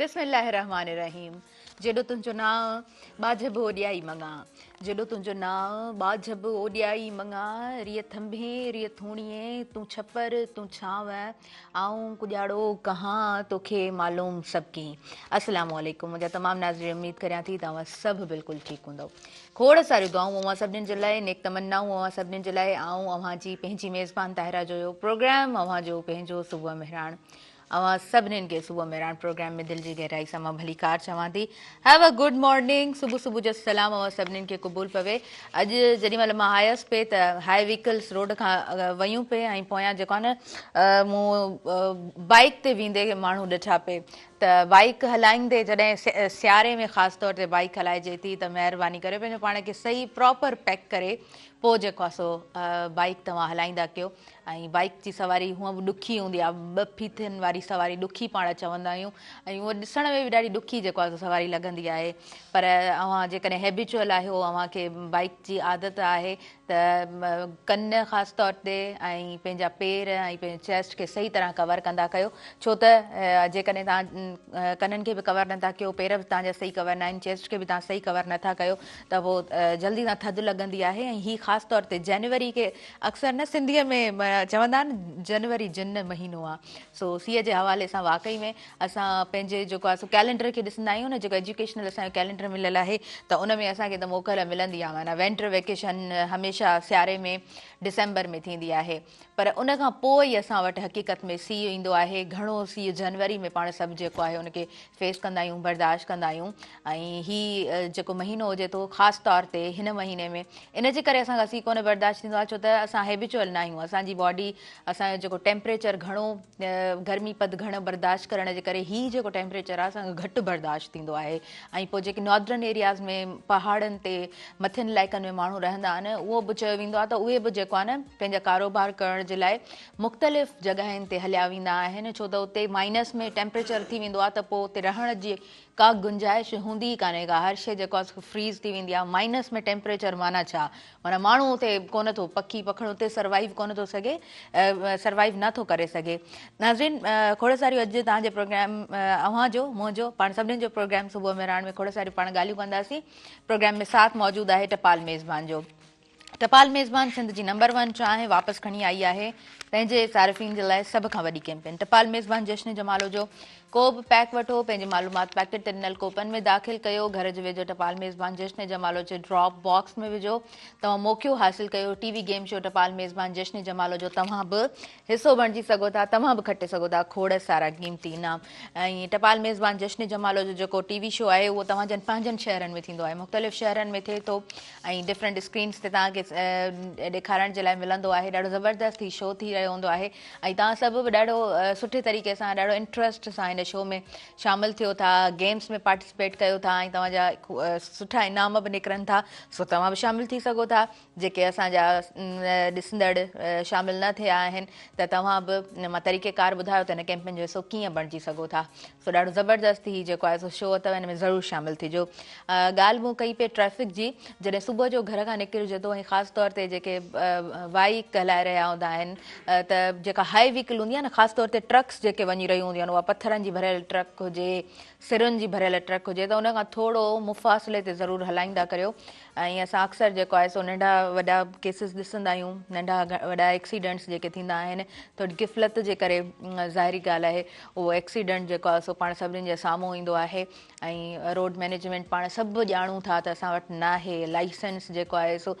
بسم الله الرحمٰن الرحيم جيڏو تنهنجو نانء ٻاجهه به اوڏيائي مڱا جيڏو تنهنجو نانء ٻاجهه به اوڏيائي مڱا ريء ٿنڀين ريء ٿوڻيين تون ڇپر تون ڇانو آئون ڪڄاڙو ڪهان توکي معلوم سڀ ڪين السلام عليڪم منهنجا تمام ناظرين اميد ڪريان ٿي ته اوهان سڀ بلڪل ٺيڪ هوندؤ کوڙ ساريون دعائون اوهان سڀنين جي لاء نيڪ تمنائون اوهان سڀنين جي لاء آئون اوهان جي پنهنجي ميزبان طاهره جويو پروگرام اوهان جو پنهنجو صبح مهراڻ اوهان سڀنين کي صبح ميران پروگرام ۾ دل جي گهرائي سان مان ڀليڪار چوان ٿي هيو ا گڊ مارننگ صبح صبح جو سلام اوهان سڀنين کي قبول پوي اڄ جڏهن مهل مان آيس پي ته هاء ويڪلس روڊ کان ويون پي ۽ پويان جيڪو آهي نه مون بائيڪ تي ويندي ماڻهو ڏٺا پي ته بائيڪ هلائيندي جڏهن سياري ۾ خاص طور تي بائيڪ هلائجي ٿي ته مهرباني ڪري پنهنجو پاڻ کي صحيح پراپر پيڪ ڪري پوء جيڪو آهي سو بائيڪ توهان هلائيندا ڪيو ۽ بائيڪ جي سواري هونء به ڏکي هوندي آهي ٻه ڦيٿين واري سواري ڏکي پاڻ چوندا آهيون ۽ هوء ڏسڻ ۾ به ڏاڍي ڏکي جيڪو آهي سواري لڳندي آهي پر اوهان جيڪڏهن هيبيچوئل آهيو اوهان کي بائيڪ جي عادت آهي ته ڪن خاص طور تي ۽ پنهنجا پير ۽ پنهنجي چيسٽ کي صحيح طرح ڪور ڪندا ڪيو ڇو ته جيڪڏهن توهان ڪنن کي به ڪور نٿا ڪيو پير به توهان جا صحيح ڪور ناهن چيسٽ کي به توهان صحيح ڪور نٿا ڪيو ته پوء جلدي سان ٿڌ لڳندي آهي ۽ هي خاص طور تي جنوري کي اڪثر نه سنڌيء ۾ چوندا آهن جنوري جن مهينو آ سو سيء جي حوالي سان واقعي ۾ اسان پنهنجي جيڪو آ سو ڪئلينڊر کي ڏسندا آهيون نه جيڪو ايجوڪيشنل اسان جو ڪئلينڊر مليل آهي ته ان ۾ اسان کي ته موڪل ملندي آ معنيٰ وينٽر ويڪيشن هميشه سياري ۾ ڊسمبر ۾ ٿيندي آهي پر ان کان پوء ئي اسان وٽ حقيقت ۾ سيء ايندو آهي گهڻو سيء جنوري ۾ پاڻ سڀ جيڪو آهي ان کي فيس ڪندا آهيون برداشت ڪندا آهيون ۽ هي جيڪو مهينو هجي ٿو خاص طور تي هن مهيني ۾ ان جي ڪري اسان کان سي ڪونه برداشت ٿيندو آهي ڇو ته اسان هيبچوئل نه آهيون اسان جي باڊي اسان جو جيڪو ٽيمپريچر گهڻو گرمي پد گهڻ برداشت ڪرڻ جي ڪري هي جيڪو ٽيمپريچر آهي اسان کي گهٽ برداشت ٿيندو آهي ۽ پوء جيڪي ناردرن ايرياز ۾ پهاڙن تي مٿين علائقن ۾ ماڻهو رهندا آهن اهو به چيو ويندو آهي ته اهي به جيڪو آهي نه پنهنجا ڪاروبار ڪرڻ جي لاء مختلف جڳهين تي هليا ويندا آهن ڇو ته اتي مائنس ۾ ٽيمپريچر ٿي ويندو آهي ته پوء اتي رهڻ جي ڪا گنجائش هوندي ئي ڪانهي ڪا هر شيء جيڪو آهي فريز ٿي ويندي آهي مائنس ۾ ٽيمپريچر معنيٰ ڇا معنيٰ ماڻهو اتي ڪونه ٿو پکي پکڻ اتي سروائيو ڪونه ٿو سگهي سروائيو نه ٿو ڪري سگهي ناظرين کوڙ ساريون اڄ توهان جي پروگرام اوهان جو منهنجو پاڻ سڀني جو پروگرام صبح مهراڻ ۾ کوڙ ساريون پاڻ ڳالهيون ڪنداسين پروگرام ۾ ساٿ موجود آهي ٽپال ميزبان جو ٽپال ميزبان سنڌ جي نمبر ون چانهه واپس کڻي آئي آهي، پنهنجي صارفين جي لاء سڀ کان وڏي ڪيمپين ٽپال ميزبان جشن جمالو جو ڪو به پيڪ وٺو پنهنجي معلومات پيڪٽ تي ڏنل ڪوپن ۾ داخل ڪيو گهر جي ويجهو ٽپال ميزبان جشن جمالو جي ڊراپ باڪس ۾ وجهو توهان موقعو حاصل ڪيو ٽي وي گيم شو ٽپال ميزبان جشن جمالو جو توهان به حصو بڻجي سگهو ٿا توهان به کٽي سگهو ٿا کوڙ سارا قيمتي انعام ۽ ٽپال ميزبان جشن جمالو جو جيڪو ٽي وي شو آهي اهو توهان جن پنهنجن شهرن ۾ ٿيندو آهي مختلف شهرن ۾ ٿئي ٿو ۽ ڊفرنٽ اسڪرينس تي توهان کي ڏيکارڻ جي لاء ملندو آهي ڏاڍو زبردست هي شو ٿي رهيو هوندو آهي ۽ توهان سڀ به ڏاڍو سٺي طريقي سان ڏاڍو انٽرسٽ سان هن شو ۾ شامل ٿيو ٿا گيمس ۾ پارٽيسپيٽ ڪيو ٿا ۽ توهان جا سٺا انعام به نڪرن ٿا سو توهان به شامل ٿي سگهو ٿا جيڪي اسان جا ڏسندڙ شامل نه ٿيا آهن ته توهان به مان طريقي ڪار ٻڌايو ته هن ڪيمپين جو حصو ڪيئن بڻجي سگهو ٿا سو ڏاڍو زبردست هي جيڪو آهي سو شو اٿو هن ۾ ضرور شامل ٿي جو ڳالهه مون ڪئي پئي ٽريفڪ جي جڏهن صبح جو گهر کان نڪرجي ٿو ۽ خاص طور تي جيڪي وائيڪ هلائي رهيا هوندا آهن ته جيڪا هائي ويڪل هوندي آهي نه خاص طور تي ٽرڪس جيڪي وڃي رهيون هونديون آهن اها پٿرن جي ڀريل ٽرڪ هجي سرن جي ڀريل ٽرڪ هجي ته ان کان ٿورو مفاصلي تي ضرور هلائيندا ڪريو ۽ اسان اڪثر جيڪو آهي سو ننڍا وڏا ڪيسز ڏسندا آهيون ننڍا وڏا ايڪسيڊنٽس جيڪي ٿيندا آهن تو غفلت جي ڪري ظاهري ڳالهه آهي اهو ايڪسيڊنٽ جيڪو آهي سو پاڻ سڀني جي سامهون ايندو آهي ۽ روڊ مينيجمينٽ پاڻ سڀ ڄاڻون ٿا ته اسان وٽ ناهي لائسنس جيڪو آهي سو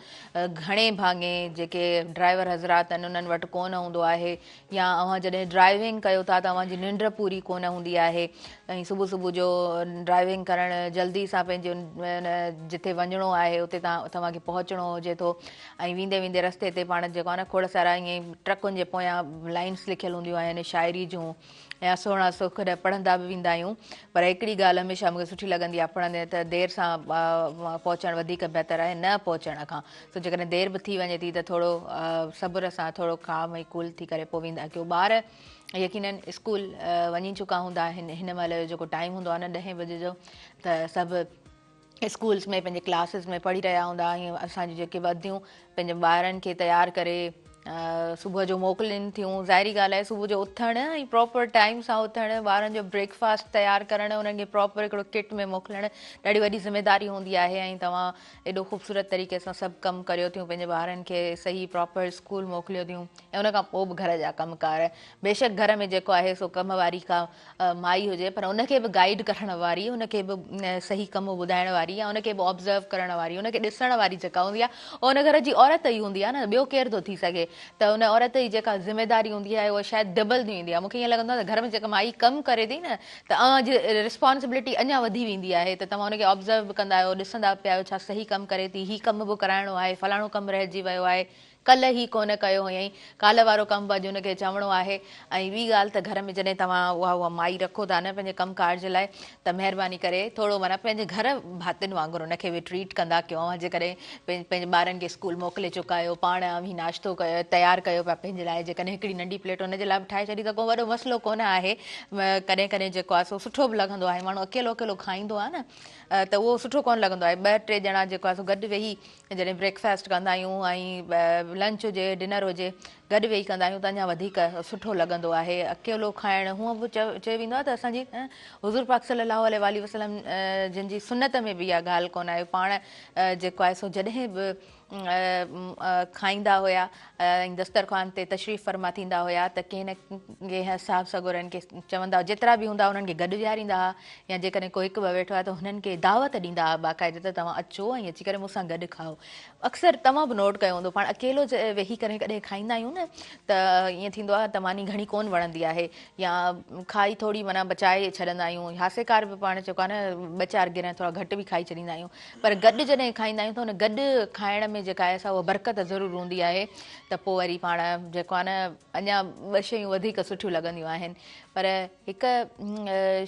گهڻي ڀاڱي جيڪي ڊرائيور حضرات آهن انهن وٽ ڪونه هوندو آهي يا اوهان جڏهن ڊرائيونگ ڪيو ٿا ته اوهان جي ننڊ پوري ڪونه هوندي آهي ۽ صبح صبح جو ڊرائيونگ ڪرڻ جلدي سان پنهنجي جتي وڃڻو آهي اتي توهان کي پهچڻو هجي ٿو ۽ ويندي ويندي رستي تي پاڻ جيڪو آهي نه کوڙ سارا ائين ٽرڪن جي پويان لائنس لکيل هونديون آهن شاعري جون يا سهڻا سک نه پڙهندا به ويندا آهيون پر هڪڙي ڳالهه هميشه مونکي سٺي لڳندي آهي پڙهندي ته دير سان پهچڻ وڌيڪ بهتر آهي نه پهچڻ کان سو جيڪڏهن دير به ٿي وڃي ٿي ته ٿورو صبر سان ٿورو ڪام ۽ ڪول ٿي ڪري پوء ويندا ڪيو ٻار يقينن اسڪول وڃي چڪا هوندا آهن هن مهل جو جيڪو ٽائيم هوندو آهي نه ڏهين بجي جو ته سڀ اسڪولس ۾ پنهنجي ڪلاسز ۾ پڙهي رهيا هوندا آهن اسان جون جيڪي وديون پنهنجي ٻارن کي تيار ڪري صبح جو موڪلين ٿيون ظاهري ڳالهه آهي صبح جو اٿڻ ۽ پراپر ٽائيم سان اٿڻ ٻارن جو بريڪفاسٽ تيار ڪرڻ انهن کي پراپر هڪڙو ڪٽ ۾ موڪلڻ ڏاڍي وڏي ذميداري هوندي آهي ۽ توهان ايڏو خوبصورت طريقي سان سڀ ڪم ڪريو ٿيون پنهنجي ٻارن کي صحيح پراپر اسڪول موڪليو ٿيون ۽ ان کان پوء به گهر جا ڪم ڪار بيشڪ گهر ۾ جيڪو آهي سو ڪم واري ڪا مائي هجي پر ان کي به گائيڊ ڪرڻ واري ان کي به صحيح ڪم ٻڌائڻ واري يا ان کي به آبزرو ڪرڻ واري ان کي ڏسڻ واري جيڪا هوندي آهي اها ان گهر جي عورت ئي هوندي آهي نه ٻيو ڪير ٿو ٿي سگهي ته ان عورت جي جيڪا ذميداري هوندي آهي اها شايد ڊبل ٿي ويندي آهي مون کي ائين لڳندو آهي ته گهر ۾ جيڪا مائي ڪم ڪري ٿي نه ته اوهان جي ريسپانسبلٽي اڃا وڌي ويندي آهي ته توهان ان کي آبزرو به ڪندا آهيو ڏسندا پيا آهيو ڇا صحيح ڪم ڪري ٿي هي ڪم به ڪرائڻو آهي فلاڻو ڪم رهجي ويو آهي ڪلهه هي ڪونه ڪيو هئائين ڪالهه وارو ڪم به اڄ ان کي چوڻو آهي ۽ ٻي ڳالهه ته گهر ۾ جڏهن توهان اها اها مائي رکو ٿا نه پنهنجي ڪم ڪار جي لاء ته مهرباني ڪري ٿورو معنيٰ پنهنجي گهر ڀاتين وانگر ان کي به ٽريٽ ڪندا ڪيو اوهان جيڪڏهن پنهنجي ٻارن کي اسڪول موڪلي چڪايو پاڻ اوهين ناشتو تيار ڪيو پيا پنهنجي لاء جيڪڏهن هڪڙي ننڍي پليٽ ان جي لاء به ٺاهي ڇڏي ته ڪو وڏو مسئلو ڪونه آهي ڪڏهن ڪڏهن جيڪو آهي سو سٺو به لڳندو آهي ماڻهو اڪيلو اڪيلو کائيندو آهي نه ته اهو سٺو ڪونه لڳندو آهي ٻه ٽي ڄڻا جيڪو آهي سو گڏ ويهي جڏهن بريڪ فاسٽ ڪندا آهيون ۽ لنچ هجي ڊنر هجي گڏ ويهي ڪندا آهيون ته اڃا وڌيڪ سٺو لڳندو آهي اڪيلو کائڻ هونء به چيو ويندو آهي ته اسان جي حضور پاڪ صلي الله عليه واٰله وسلم جن جي سنت ۾ به اها ڳالهه ڪونه آهي پاڻ جيڪو آهي سو جڏهن به کائيندا هيا ۽ دسترخوان تي تشريف فرما ٿيندا هيا ته ڪنهن نه ڪنهن اصحاب سڳوري هن کي چوندا جيترا به هوندا انهن کي گڏ ويهاريندا هئا يا جيڪڏهن ڪو هڪ ٻه ويٺو آهي ته هنن کي دعوت ڏيندا هئا باقاعده ته توهان اچو ۽ اچي ڪري مون سان گڏ کائو اڪثر توهان به نوٽ ڪيو هوندو پاڻ اڪيلو ويهي ڪري ڪڏهن کائيندا آهيون نه ته ائين ٿيندو آهي ته ماني گهڻي ڪون وڻندي آهي يا کائي ٿوري معنيٰ بچائي ڇڏندا آهيون هاسيڪار به پاڻ چيڪو آهي نه ٻه چار گرهه ٿورا گهٽ به کائي ڇڏيندا آهيون پر گڏ جڏهن کائيندا آهيون ته ان گڏ کائڻ ۾ جيڪا آهي سا اها برڪت ضرور هوندي آهي ته پوء وري پاڻ جيڪو آهي نه اڃا ٻه شيون وڌيڪ سٺيون لڳنديون آهن پر هڪ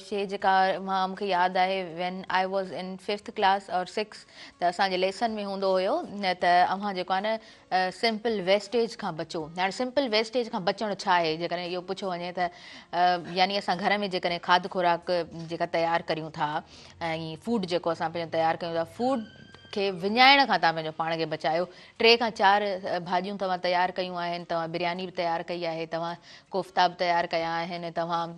شيء جيڪا مان مون کي ياد آهي when I was in fifth class or six ته اسان جي ليسن ۾ هوندو هيو ته اوهان جيڪو آهي نه سمپل ويسٽيج کان بچو هاڻي سمپل ويسٽيج کان بچڻ ڇا آهي جيڪڏهن اهو پڇيو وڃي ته يعني اسان گهر ۾ جيڪڏهن کاڌ خوراڪ جيڪا تيار ڪريون ٿا ۽ فوڊ جيڪو اسان پنهنجو تيار ڪيون ٿا فوڊ کي وڃائڻ کان تان پنهنجو پاڻ کي بچايو ٽي کان چار ڀاڄيون توهان تيار ڪيون آهن، توهان برياني به تيار ڪئي آهي، توهان ڪوفتا به تيار ڪيا آهن، توهان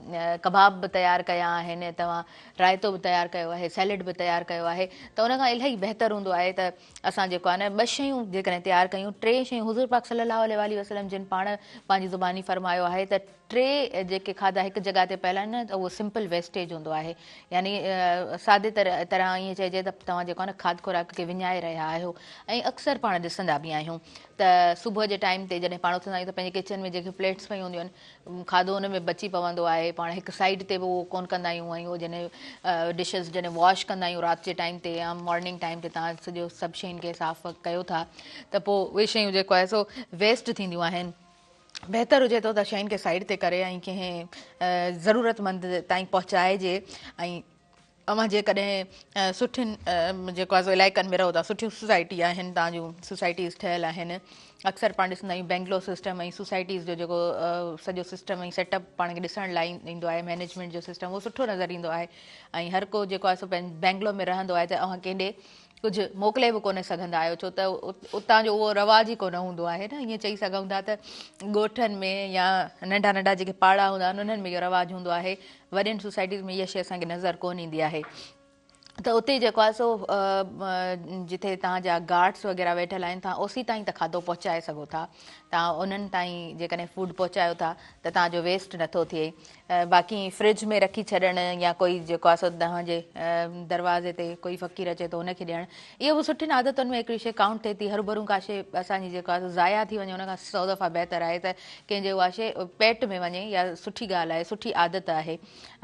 ڪباب به تيار ڪيا آهن، توهان رائتو به تيار ڪيو آهي، سيلڊ به تيار ڪيو آهي ته ان کان الاهي بهتر هوندو آهي ته اسان جيڪو آهي نه ٻه شيون جيڪڏهن تيار ڪيون، ٽي شيون حضور پاڪ صلي الله عليه واٰله وسلم جن پاڻ پنهنجي زباني فرمايو آهي ته. ٽي جيڪي کاڌا هڪ جڳهه تي پيل آهن ته اهو سمپل ويسٽيج هوندو آهي يعني سادي طرح ائين چئجي ته توهان جيڪو آهي نه کاڌ خوراڪ کي وڃائي رهيا آهيو ۽ اڪثر پاڻ ڏسندا به آهيون ته صبح جي ٽائيم تي جڏهن پاڻ اٿندا آهيون ته پنهنجي ڪچن ۾ جيڪي پليٽس پيون هونديون آهن کاڌو ان ۾ بچي پوندو آهي پاڻ هڪ سائيڊ تي به اهو ڪون ڪندا آهيون ۽ اهو جڏهن ڊشز جڏهن واش ڪندا آهيون رات جي ٽائيم تي يا مارننگ ٽائيم تي تان سڄو سڀ شين کي صاف ڪيو ٿا ته پوء اهي شيون جيڪو آهي سو ويسٽ ٿينديون آهن بهتر هجي ٿو ته شين کي سائيڊ تي ڪري ۽ ڪنهن ضرورت مند تائين پهچائجي ۽ اوهان جيڪڏهن سٺين جيڪو آزو علائقن ۾ رهو ٿا سٺيون سوسائٽي آهن تان جون سوسائٽيز ٺهيل آهن اڪثر پاڻ ڏسندا آهيون بينگلور سسٽم ۽ سوسائٽيز جو جيڪو سڄو سسٽم ۽ سيٽ اپ پاڻ کي ڏسڻ لاء ايندو آهي مينيجمنٽ جو سسٽم اهو سٺو نظر ايندو آهي ۽ هر ڪو جيڪو آهي سو بينگلور ۾ رهندو آهي ته اوهان ڪيڏي ڪجهه موڪلي به ڪونه سگهندا آهيو ڇو ته اتان جو اهو رواج ئي ڪونه هوندو آهي نه ائين چئي سگهون ٿا ته ڳوٺن ۾ يا ننڍا ننڍا جيڪي پاڙا هوندا آهن انهن ۾ اهو رواج هوندو آهي وڏين سوسائٽيز ۾ اها شيء اسان کي نظر ڪونه ايندي آهي ته اتي جيڪو آهي سو جتي تان جا گارڊس وغيره ويٺل آهن تان اوسي تائين ته کاڌو پهچائي سگهو ٿا تان انهن تائين جيڪڏهن فوڊ پهچايو ٿا ته تان جو ويسٽ نٿو ٿئي باقي ائين فرج ۾ رکي ڇڏڻ يا ڪوئي جيڪو آهي سو توهان جي دروازي تي ڪوئي فقير اچي ٿو ان کي ڏيڻ اهو به سٺين عادتن ۾ هڪڙي شيء ڪائونٽ ٿئي ٿي هربھرون ڪا شيء اسان جي جيڪو آهي ضايع ٿي وڃي ان کان سو دفعا بهتر آهي ته ڪنهن جي اها شيء پيٽ ۾ وڃي يا سٺي ڳالهه آهي سٺي عادت آهي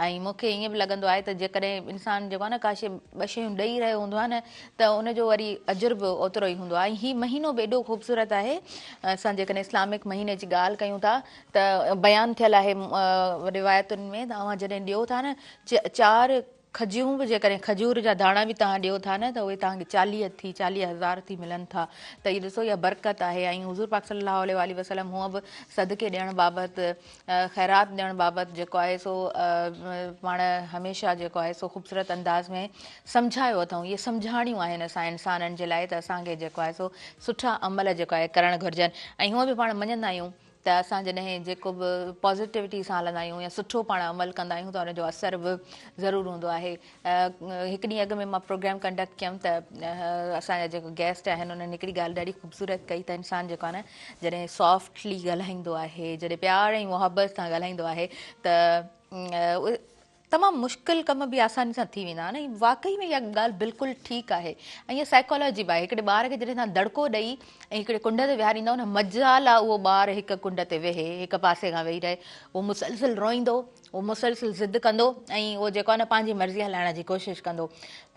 ۽ مون کي ائين به لڳندو آهي ته جيڪڏهن انسان جيڪو آهي نه ڪا شيء ٻه شيون ڏئي رهيو هوندو آهي نه ته ان جو وري اجر به اوترو ئي هوندو آهي ۽ هي مهينو به ايڏو خوبصورت آهي اسان جيڪڏهن اسلامڪ مهيني جي ڳالهه ڪيون ٿا ته بيان ٿيل آهي روايتن ۾ ته اوهان جڏهن ڏيو ٿا نه چار کجيون به جيڪڏهن کجور جا داڻا به توهان ڏيو ٿا نه ته اهي توهان کي چاليهه ٿي چاليهه هزار ٿي ملن ٿا ته اهي ڏسو اها برڪت آهي ۽ حضور پاڪ صلي الله عليه واٰله وسلم هونء به صدقي ڏيڻ بابت خيرات ڏيڻ بابت جيڪو آهي سو پاڻ هميشه جيڪو آهي سو خوبصورت انداز ۾ سمجهايو اٿئون اهي سمجهاڻيون آهن اسان انسانن جي لاء ته اسان کي جيڪو آهي سو سٺا عمل جيڪو آهي ڪرڻ گهرجن ۽ هونء به پاڻ مڃندا آهيون ته اسان جڏهن جيڪو به پازيٽوٽي سان هلندا آهيون يا سٺو پاڻ عمل ڪندا آهيون ته ان جو اثر به ضرور هوندو آهي هڪ ڏينهن اڳ ۾ مان پروگرام ڪنڊڪٽ ڪيم ته اسان جا جيڪو گيسٽ آهن انهن هڪڙي ڳالهه ڏاڍي خوبصورت ڪئي ته انسان جيڪو آهي نه جڏهن سافٽلي ڳالهائيندو آهي جڏهن پيار ۽ محبت سان ڳالهائيندو آهي ته تمام مشڪل ڪم به آساني سان ٿي ويندا آهن ۽ واقعي ۾ اها ڳالهه بلڪل ٺيڪ آهي ۽ اها سائيڪالاجي به آهي هڪڙي ٻار کي جڏهن تان دڙڪو ڏئي ۽ هڪڙي ڪنڊ تي ويهاريندا ان مجال آهي اهو ٻار هڪ ڪنڊ تي ويهي هڪ پاسي کان ويهي رهي اهو مسلسل روئيندو اهو مسلسل ضد ڪندو ۽ اهو جيڪو نه پنهنجي مرضي هلائڻ جي ڪوشش ڪندو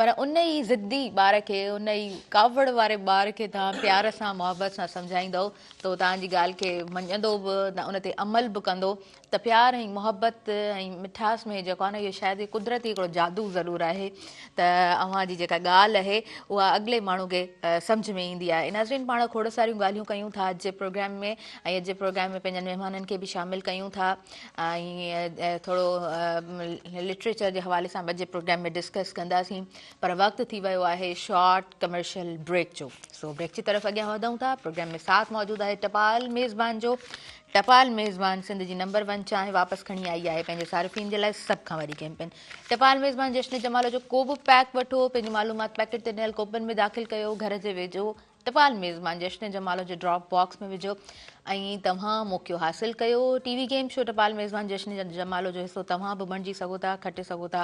پر ان ئي ضدي ٻار کي ان ئي ڪاوڙ واري ٻار کي توهان پيار سان محبت سان سمجهائيندو ته توهان جي ڳالهه کي مڃندو به ان تي عمل به ڪندو ته پيار ۽ محبت ۽ مٺاس ۾ جيڪو آهي نه اهو شايد قدرتي هڪڙو جادو ضرور آهي ته اوهان جي جيڪا ڳالهه اهي اها اڳلي ماڻهو کي سمجهه ۾ ايندي آهي ناظرين پاڻ کوڙ ساريون ڳالهيون ڪيون ٿا اڄ جي پروگرام ۾ ۽ اڄ جي پروگرام ۾ پنهنجن مهمانن کي به شامل ڪيون ٿا ۽ ٿورو لٽريچر جي حوالي سان به جي پروگرام ۾ ڊسڪس ڪنداسين پر وقت ٿي ويو آهي شارٽ ڪمرشل بريڪ جو سو بريڪ جي طرف اڳيان وڌون ٿا پروگرام ۾ ساٿ موجود آهي ٽپال ميزبان جو ٽپال ميزبان سنڌ جي نمبر ون چانهه واپس کڻي آئي آهي پنهنجي صارفين جي لاء سڀ کان وڏي ڪيمپين ٽپال ميزبان جشن جمال جو ڪو به پيڪ وٺو پنهنجي معلومات پيڪيٽ تي ڏنل ڪوپن ۾ داخل ڪيو گهر جي ويجهو ٽپال ميزبان جشن جمال جي ڊراپ باڪس ۾ وجهو ۽ توهان موقعو حاصل ڪيو ٽي وي گيم شو ٽپال ميزبان جشن جمال جو حصو توهان به بڻجي سگهو ٿا کٽي سگهو ٿا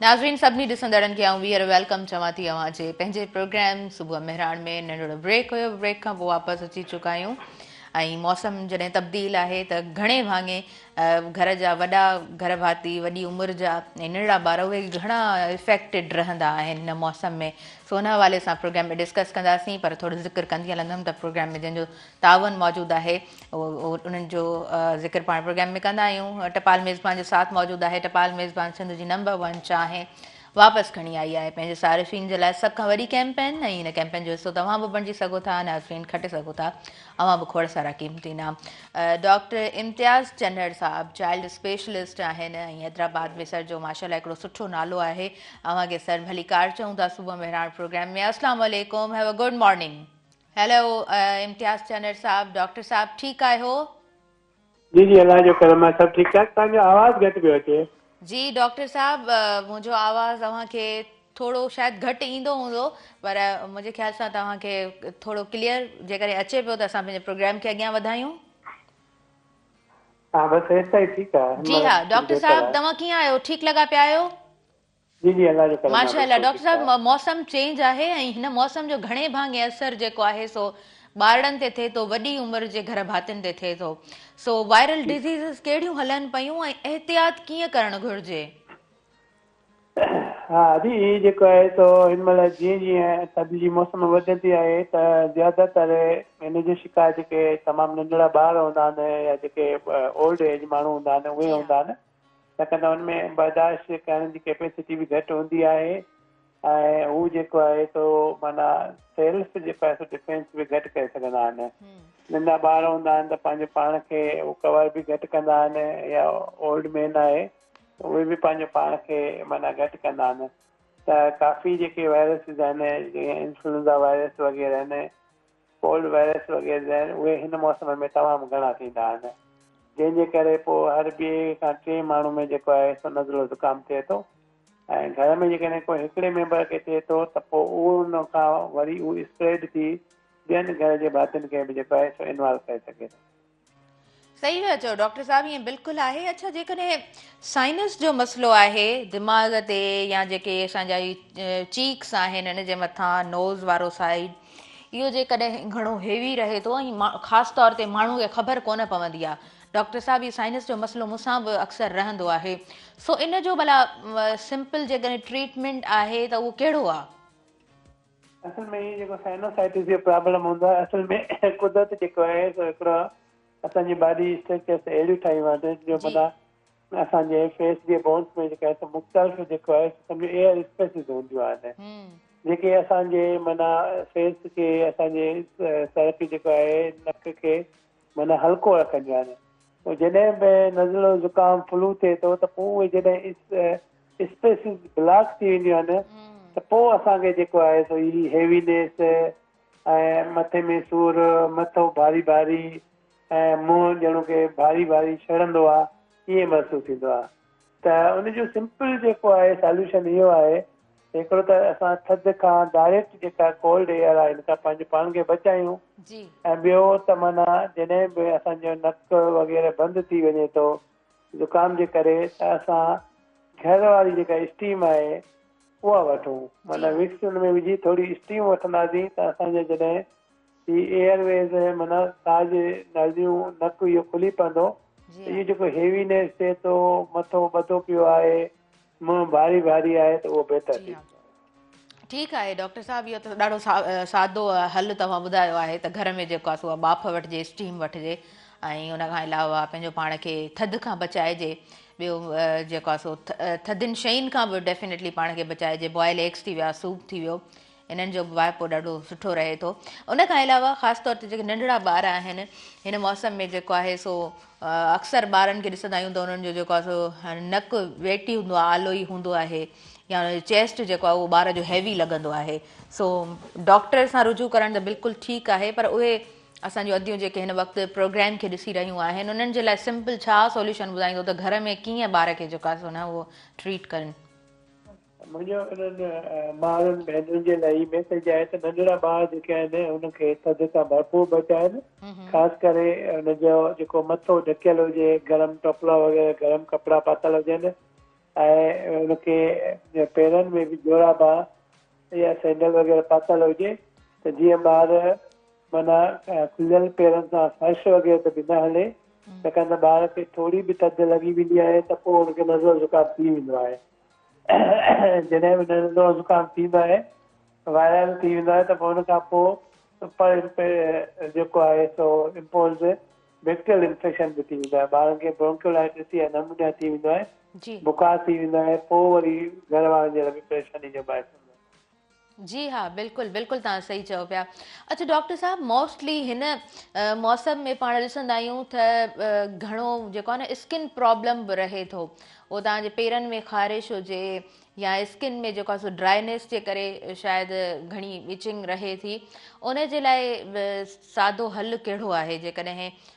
ناظرين سڀني ڏسندڙن کي آئون ٻيهر ويلڪم چوان ٿي اوهان جي پنهنجي پروگرام صبح مهراڻ ۾ ننڍڙو بريڪ هيو بريڪ کان پوء واپس اچي چڪا آهيون ۽ موسم جڏهن تبديل آهي ته گهڻي ڀاڱي گهر جا وڏا گهر ڀاتي وڏي عمر جا ۽ ننڍڙا ٻار اهي گهڻا افيڪٽڊ رهندا آهن هن موسم ۾ سو ان حوالي سان پروگرام ۾ ڊسڪس ڪنداسين پر ٿورو ذڪر ڪندي هلندم ته پروگرام ۾ جنهن جو تعاون موجود آهي انهن جو ذڪر پاڻ پروگرام ۾ ڪندا آهيون ٽپال ميزبان جو ساٿ موجود آهي ٽپال ميزبان سنڌ جي نمبر ون چانهه واپس کڻي آئي آهي پنهنجي صارفين جي لاء سڀ کان وڏي ڪيمپين ۽ ان ڪيمپين جو حصو توهان به بڻجي سگهو ٿا ناظرين کٽي سگهو ٿا اوهان به کوڙ سارا قيمتي نام ڊاڪٽر امتياز چنڙ صاحب چائلڊ اسپيشلسٽ آهن ۽ حيدرآباد ۾ سر جو ماشاء الله هڪڙو سٺو نالو آهي اوهان کي سر ڀلي ڪار چئون ٿا صبح مهراڻ پروگرام ۾ السلام علیڪم have a good morning hello Imtiaz Channar صاحب ڊاڪٽر صاحب ٺيڪ آهيو. جي جي الله جو ڪرم آهي سڀ ٺيڪ ٺاڪ توهان جو آواز گهٽ پيو اچي. جي ڊاڪٽر صاحب منهنجو آواز اوهان کي ٿورو شايد گهٽ ايندو هوندو پر منهنجي خيال سان توهان کي ٿورو ڪليئر جيڪڏهن اچي پيو ته اسان پنهنجي پروگرام کي اڳيان وڌايون. ها بس ايستائين ٺيڪ آهي. جي ها ڊاڪٽر صاحب توهان ڪيئن آهيو ٺيڪ لڳا پيا آهيو. جي جي الله جو ڪرم آ. ماشاء الله ڊاڪٽر صاحب موسم چينج آهي ۽ هن موسم جو گهڻي ڀاڱي اثر جيڪو آهي سو ٻارڙن تي ٿئي ٿو وڏي عمر جي گهر ڀاتين تي ٿئي ٿو سو وائرل ڊزيزز ڪهڙيون هلن پيون ۽ احتياط ڪيئن ڪرڻ گهرجي ها جي هي جيڪو آهي سو هن مهل جيئن جيئن ٿڌ جي موسم وڌندي آهي ته زياده تر هن جو شڪار جيڪي تمام ننڍڙا ٻار هوندا آهن يا جيڪي اولڊ ايج ماڻهو هوندا آهن اهي هوندا آهن ڇاڪاڻ ته هن ۾ برداشت ڪرڻ جي ڪيپيسٽي به گهٽ هوندي آهي ۽ هو جيڪو آهي سو معنيٰ سيلف جيڪو آهي سو ڊفينس به گهٽ ڪري سگهندا آهن. ننڍا ٻار هوندا آهن ته پنهنجو پاڻ کي هو ڪور به گهٽ ڪندا آهن يا اولڊ مين آهي اهي به پنهنجو پاڻ کي معنيٰ گهٽ ڪندا آهن ته ڪافي جيڪي وائرسز آهن جيئن انفلوئنزا وائرس وغيره آهن ڪولڊ وائرس وغيره جا آهن اهي هن موسم ۾ تمام گهڻا ٿيندا آهن جنهن جي ڪري پوء هر ٻئي کان ٽئين ماڻهو ۾ جيڪو آهي سو نزلو زڪام ٿئي ٿو ۽ گهر ۾ جيڪڏهن ڪو هڪڙي ميمبر کي ٿئي ٿو ته پوء ان کان وري اهو اسپريڊ ٿي ٻين گهر جي ڀاتين کي به جيڪو آهي سو انوالو ڪري سگهي ٿو. صحيح ٿا چئو ڊاڪٽر صاحب ائين بلڪل آهي اڇا جيڪڏهن سائنس جو مسئلو آهي دماغ تي يا جيڪي اسان جا چيڪس آهن ان جي مٿان نوز وارو سائيڊ اهو جيڪڏهن گهڻو هيوي رهي ٿو ۽ خاص طور تي ماڻهو کي خبر ڪونه پوندي آهي ڊاڪٽر صاحب هي سائنس جو مسئلو مون سان به اڪثر رهندو آهي سو ان جو ڀلا سمپل جيڪڏهن ٽريٽمنٽ آهي ته اهو ڪهڙو آهي اصل ۾ هي جيڪو سائنوسائٽس جو پرابلم هوندو آهي اصل ۾ قدرت جيڪو آهي سو هڪڙو اسان جي باڊي اسٽرڪچرس اهڙيون ٺاهيون آهن جو جي معنيٰ اسان جي فيس جي بونس ۾ جيڪا سو مختلف جيڪو آهي سو سمجهو ايئر اسپيسز هونديون آهن هم جيڪي اسان جي معنيٰ فيس کي اسان جي سر کي جيڪو آهي نڪ کي معنيٰ هلڪو رکنديون آهن. پوء جڏهن به نزلو، زڪام، فلو ٿئي ٿو ته پوء اهي جڏهن اسپيسز بلاڪ ٿي وينديون آهن ته پوء اسان کي جيڪو آهي سو هي هيوينيس ۽ مٿي ۾ سور، مٿو ڀاري ڀاري ۽ منهن ڄڻو ڪي ڀاري ڀاري ڇڙندو آهي، ائين محسوس ٿيندو آهي. ته ان جو سمپل جيڪو آهي ساليوشن اهو آهي ته هڪڙو ته اسان ٿڌ کان ڊائريڪٽ جيڪا ڪولڊ ايئر آهي ان کان پنهنجو پاڻ کي بچايون ۽ ٻيو ته معنيٰ جڏهن به اسان جو نڪ وغيره بند ٿي وڃي ٿو زڪام جي ڪري ته اسان گهر واري جيڪا اسٽيم آهي اها وٺون معنيٰ وڪس ان ۾ وجهي ٿوري اسٽيم وٺنداسين ته اسان جا جڏهن هي ايئر ويز ۽ معنيٰ ساهه جي ناليون نڪ اهو کلي پوندو ته اهو جيڪو هيوي نيس چئي ٿو مٿو ٻڌو پيو آهي منهن ڀاري ڀاري آهي ته اهو بهتر ٿي ويندو. ٺيڪ آهي ڊاڪٽر صاحب اهو ته ڏاڍو سادو حل توهان ٻڌايو آهي ته گهر ۾ جيڪو آهي سو ٻاڦ وٺجي اسٽيم وٺجي ۽ ان کان علاوه پنهنجو پاڻ کي ٿڌ کان بچائجي ٻيو جيڪو آهي سو ٿڌين شين کان به ڊيفينيٽلي پاڻ کي بچائجي بوائل ايگس ٿي ويا سوپ ٿي ويو هنن جو به واهپو ڏاڍو سٺو رهي ٿو ان کان علاوه خاص طور تي جيڪي ننڍڙا ٻار آهن هن موسم ۾ جيڪو آهي سو اڪثر ٻارن کي ڏسندا آهيون ته انهن جو جيڪو آهي سو نڪ ويٽي هوندو آهي آلو ئي هوندو آهي يا ان جو چيسٽ جيڪو آهي اهو ٻار جو هيوي لڳندو آهي سو ڊاڪٽر سان رجوع ڪرڻ ته بلڪل ٺيڪ آهي پر اهي اسان جون اديون جيڪي هن وقت پروگرام کي ڏسي رهيون آهن انهن جي لاء سمپل ڇا سوليوشن ٻڌائيندو ته گهر ۾ ڪيئن ٻار کي جيڪو آهي سو نه اهو ٽريٽ ڪرن مڃيو انهن مائرن ڀينرن جي لاء ئي بهتر جاء ته ننڍڙا ٻار جيڪي آهن انهن کي ٿڌ کان ڀرپور بچائن خاص ڪري ان جو جيڪو مٿو ڍڪيل هجي گرم ٽوپلا وغيره گرم ڪپڙا پاتل هجن ۽ ان کي پيرن ۾ به جورابا يا سينڊل وغيره پاتل هجي ته جيئن ٻار معنيٰ کليل پيرن سان فرش وغيره تي به نه هلي ڇاڪاڻ ته ٻار کي ٿوري به ٿڌ لڳي ويندي آهي ته پوء ان کي نزلو زڪام ٿي ويندو آهي جڏهن به ننڍو زڪام ٿيندو آهي وائرل ٿي ويندو آهي ته پوء ان کان پوء سپر جيڪو آهي سو امپوزڊ بيڪٽريل انفيڪشن به ٿي ويندو آهي ٻارن کي برونڪيولائٽس يا نمونيا ٿي ويندو آهي بخار ٿي ويندو آهي پوء وري گهر وارن جي لاء به پريشاني جو باعث ٿيندو آهي جي ها بلڪل بلڪل توهان صحيح چئو پيا اڇا ڊاڪٽر صاحب موسٽلي هن موسم ۾ پاڻ ڏسندا آهيون ته گهڻو جيڪو آهي نه اسڪن پرابلم به رهي ٿو او توهان جي پيرن ۾ خارش هجي يا اسڪن ۾ جيڪو سو ڊرائنس جي ڪري شايد گهڻي وچنگ رهي ٿي ان جي لاء سادو حل ڪهڙو آهي جيڪڏهن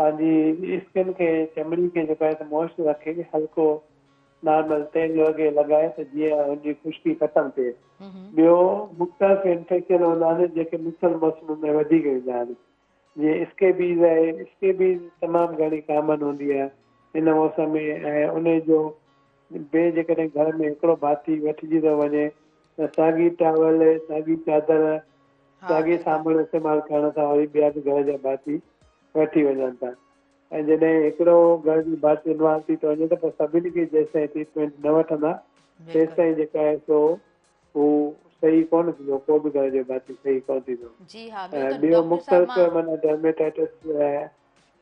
پنهنجي اسڪن کي چمڙي کي جيڪو آهي سو موئسچر رکي هلڪو نارمل تيل جو اگهي لڳائي ته جيئن ان جي خشڪي ختم ٿئي ٻيو مختلف انفيڪشن هوندا آهن جيڪي مختلف موسمن ۾ وڌيڪ ايندا آهن جيئن اسڪيبيز آهي اسڪيبيز تمام گهڻي ڪامن هوندي آهي هن موسم ۾ ۽ ان جو ڀي جيڪڏهن گهر ۾ هڪڙو ڀاتي وٺجي ٿو وڃي ته ساڳي ٽاول، ساڳي چادر، ساڳي سامان استعمال ڪرڻ سان وري ٻيا به گهر جا ڀاتي وٺي وڃن ٿا ۽ جڏهن هڪڙو گهر جو ڀاتي انوالو ٿي ٿو وڃي ته پوء سڀني کي جيستائين ٽريٽمينٽ نه وٺندا تيستائين جيڪا آهي سو هو صحيح ڪونه ٿيندو ڪو به گهر جو ڀاتي صحيح ڪونه ٿيندو ۽ ٻيو مختلف معنيٰ ڊرميٽائيٽس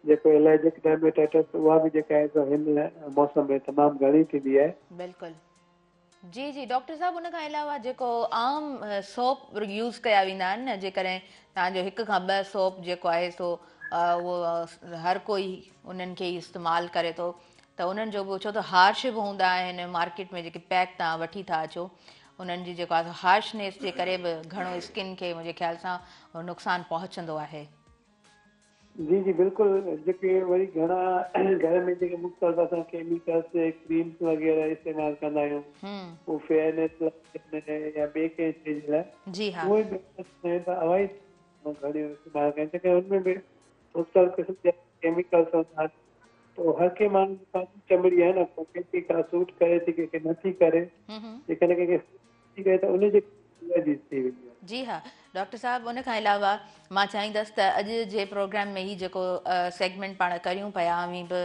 جيڪو الرجڪ ڊرميٽائٽس اها به جيڪا آهي سو هن موسم ۾ تمام گهڻي ٿيندي آهي. بلڪل جي جي ڊاڪٽر صاحب ان کان علاوه جيڪو عام سوپ يوز ڪيا ويندا آهن نه جيڪڏهن توهان جو هڪ کان ٻه سوپ جيڪو آهي سو اهو هر ڪوئي انهن کي استعمال ڪري ٿو ته انهن جو به ڇو ته هارش به هوندا آهن مارڪيٽ ۾ جيڪي پيڪ توهان وٺي ٿا اچو انهن جي جيڪو آهي هارشنيس جي ڪري به گهڻو اسڪن کي منهنجي خيال سان نقصان پهچندو آهي جي جي بلڪل جيڪي وري گهڻا گهر ۾ جيڪي مختلف اسان ڪيميڪلس ڪريمس وغيره استعمال ڪندا آهيون هو فيئرنيس لاء يا ٻي ڪنهن شي جي لاء اهي به اسان ته اوائڊ گهڻيون استعمال ڪن ڇاڪاڻ ان ۾ به مختلف قسم جا ڪيميڪلس هوندا آهن پوء هر ڪنهن ماڻهو جي پنهنجي چمڙي آهي نه ڪنهن کي ڪا سوٽ ڪري ٿي ڪنهن کي نٿي ڪري جيڪڏهن ڪنهن کي ٿي ڪري ته ان جي ڪري الرجيز ٿي وينديون آهن. جي ها ڊاڪٽر صاحب ان کان علاوه مان چاهيندس ته اڄ جي پروگرام ۾ هي جيڪو سيگمينٽ پاڻ ڪريون پيا اوهين به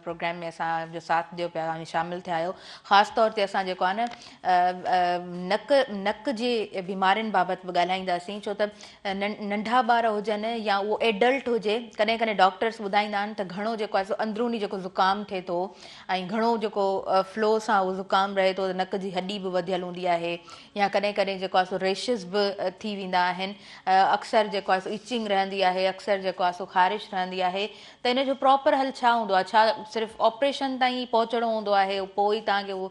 پروگرام ۾ اسان جو ساٿ ڏيو پيا اوهين شامل ٿيا آهيو خاص طور تي اسان جيڪو آهي نه نڪ نڪ جي بيمارين بابت به ڳالهائينداسين ڇو ته ننڍا ٻار هجن يا اهو ايڊلٽ هجي ڪڏهن ڪڏهن ڊاڪٽرس ٻڌائيندا آهن ته گهڻو جيڪو آهي سو اندروني جيڪو زڪام ٿئي ٿو ۽ گهڻو جيڪو فلو سان اهو زڪام رهي ٿو ته نڪ جي هڏي به وڌيل هوندي آهي يا ڪڏهن ڪڏهن جيڪو آهي سو ريشز به ٿي ويندا آهن اڪثر جيڪو آهي سو اچنگ رهندي آهي اڪثر جيڪو آهي سو خارش رهندي آهي ته ان جو پراپر حل ڇا هوندو آهي ڇا صرف آپريشن تائين پهچڻو هوندو آهي پوء ئي تهان کي اهو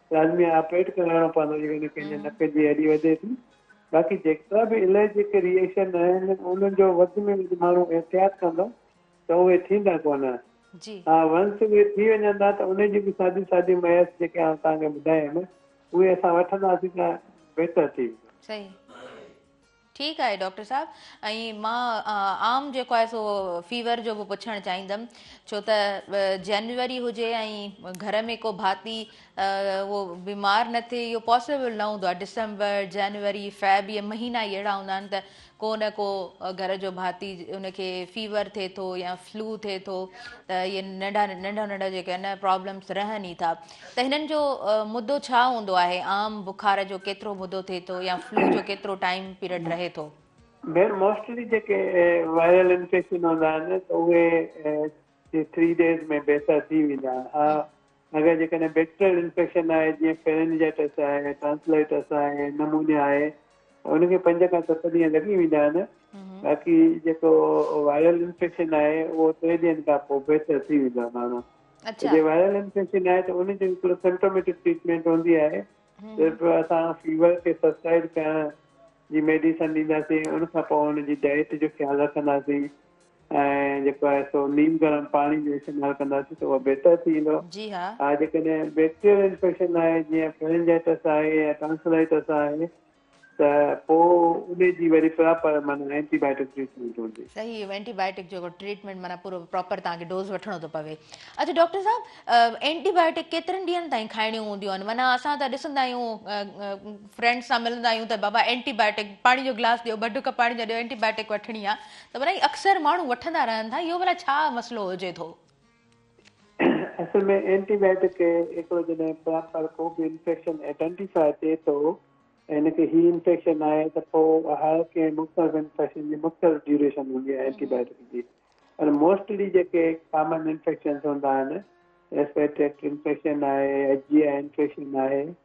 لازمي آهي آپريٽ ڪرائڻو پوندو جيڪڏهن ڪنهن جي نڪ جي هڏي وڌي ٿي باقي جيڪا به الرجڪ ريئيڪشن آهن انهن جو وڌ ۾ وڌ ماڻهو احتياط ڪندو ته اهي ٿيندا ڪونه ها ونس اهي ٿي وڃن ٿا ته ان جي به ساڌي ساڌي ميئس جيڪي آئون توهان کي ٻڌايم اهي اسان وٺنداسين ته بهتر ٿي ويندو. ٺيڪ آهي ڊاڪٽر صاحب ۽ مان عام جيڪو آهي سو فيور جو به پڇڻ چاهيندم ڇو ته جنوري هجي ۽ گهر ۾ ڪو ڀاتي اهو بيمار نه ٿئي اهو پاسبل نه هوندو آهي ڊسمبر جنوري فيب اهي مهينا ئي اهڙا هوندا آهن ته ڪو نه ڪو گهر جو ڀاتي ان کي فيور ٿئي ٿو يا فلو ٿئي ٿو ته اهي ننڍا ننڍا ننڍا جيڪي آهن پرابلمس رهن ئي ٿا ته هنن جو مدو ڇا هوندو آهي عام بخار جو ڪيترو مدو ٿئي ٿو يا فلو جو ڪيترو ٽائيم پيرڊ رهي ٿو. ڀيڻ موسٽلي جيڪي وائرل انفيڪشن هوندا آهن ته اهي جي ٿري ڊيز ۾ بهتر ٿي ويندا آهن ها اگر جيڪڏهن بيڪٽريل انفيڪشن آهي جيئن فيرنجيٽس آهي ٽانسلائيٽس آهي نمونيا آهي ته ان کي پنج کان ست ڏينهن لڳي ويندا آهن باقي جيڪو وائرل انفيڪشن آهي اهو ٽي ڏينهن کان پوء بهتر ٿي ويندو آهي ماڻهو اچا. جي وائرل انفيڪشن آهي ته ان جو هڪڙو سمٽوميٽڪ ٽريٽمينٽ هوندي آهي صرف اسان فيور کي سبسائڊ ڪرڻ جي ميڊيسن ڏينداسين ان کان پوء ان جي ڊائيٽ جو خيال رکنداسين ۽ جيڪو آهي سو نيم گرم پاڻي جو استعمال ڪنداسين ته اهو بهتر ٿي ويندو ها جيڪڏهن بيڪٽريل انفيڪشن آهي جيئن فرنجائٽس آهي يا ٽانسلائٽس آهي ته پوء انهي جي وري پراپر معنيٰ اينٽي بائيٽڪ ٽريٽمينٽ هجي. صحيح اهو اينٽي بائيٽڪ جيڪو ٽريٽمينٽ معنيٰ پورو پراپر توهان کي ڊوز وٺڻو ٿو پوي. اڇا ڊاڪٽر صاحب اينٽي بائيٽڪ ڪيترن ڏينهن تائين کائڻيون هونديون آهن معنيٰ اسان ته ڏسندا آهيون فرينڊس سان ملندا آهيون ته بابا اينٽي بائيٽڪ پاڻي جو گلاس ڏيو ٻه ڍڪ پاڻي جا ڏيو اينٽي بائيٽڪ وٺڻي آهي ته معنيٰ اڪثر ماڻهو وٺندا رهن ٿا اهو ڀلا ڇا مسئلو هجي ٿو. اصل ۾ اينٽي بائيوٽڪ هڪڙو جڏهن پر ڪو به انفيڪشن ائڊينٽيفاء ٿئي ٿو ۽ هن کي هي انفيڪشن آهي ته پوء هر ڪنهن مختلف انفيڪشن جي مختلف ڊيوريشن هوندي آهي اينٽي بائيوٽڪ جي پر موسٽلي جيڪي ڪامن انفيڪشنز هوندا آهن ريسپيريٽري انفيڪشن آهي ايچ جي آء انفيڪشن آهي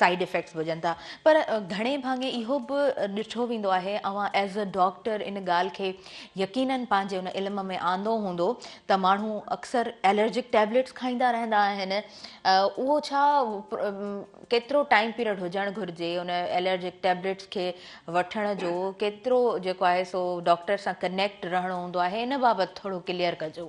سائيڊ افيڪٽس به هجن ٿا پر گهڻي ڀاڱي اهو به ڏٺو ويندو آهي اوهان ايز اي ڊاڪٽر ان ڳالهه کي يقينن پنهنجي ان علم ۾ آندو هوندو ته ماڻهو اڪثر الرجڪ ٽيبليٽس کائيندا رهندا آهن اهو ڇا ڪيترو ٽائيم پيريڊ هجڻ گهرجي ان الرجڪ ٽيبليٽس کي وٺڻ جو ڪيترو جيڪو آهي سو ڊاڪٽر سان ڪنيڪٽ رهڻو هوندو آهي ان بابت ٿورو ڪليئر ڪجو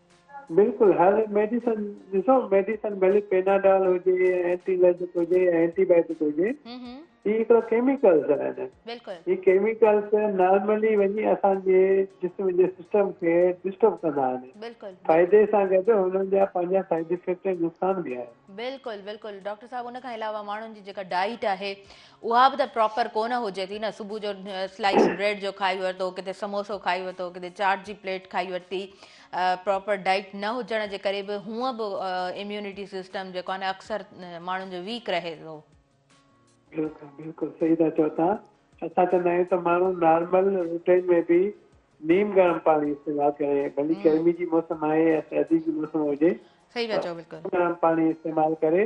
بلڪل هر ميڊيسن ڏسو ميڊيسن ڀلي پيناڊال هجي اينٽي الرجڪ هجي يا اينٽي بائيوٽڪ هجي هي هڪڙو ڪيميڪلز آهن هي ڪيميڪلز نارملي وڃي اسان جي جسم جي سسٽم کي ڊسٽرب ڪندا آهن فائدي سان گڏ هنن جا پنهنجا سائيڊ افيڪٽ ۽ نقصان به آهن. بلڪل بلڪل ڊاڪٽر صاحب ان کان علاوه ماڻهن جي جيڪا ڊائيٽ آهي اها به ته پراپر ڪونه هجي ٿي نه صبح جو سلائيس بريڊ جو کائي ورتو ڪٿي سموسو کائي ورتو ڪٿي چاٽ جي پليٽ کائي ورتي پراپر ڊائٽ نه هجڻ جي ڪري به هونء به اميونٽي سسٽم جيڪو آهي اڪثر ماڻهن جو ويڪ رهي ٿو بلڪل بلڪل صحيح ٿا چئو تان اسان چوندا آهيون ته ماڻهو نارمل روٽين ۾ به نيم گرم پاڻي استعمال ڪري ڀلي گرمي جي موسم آهي يا سردي جي موسم هجي صحيح ٿا چئو بلڪل گرم پاڻي استعمال ڪري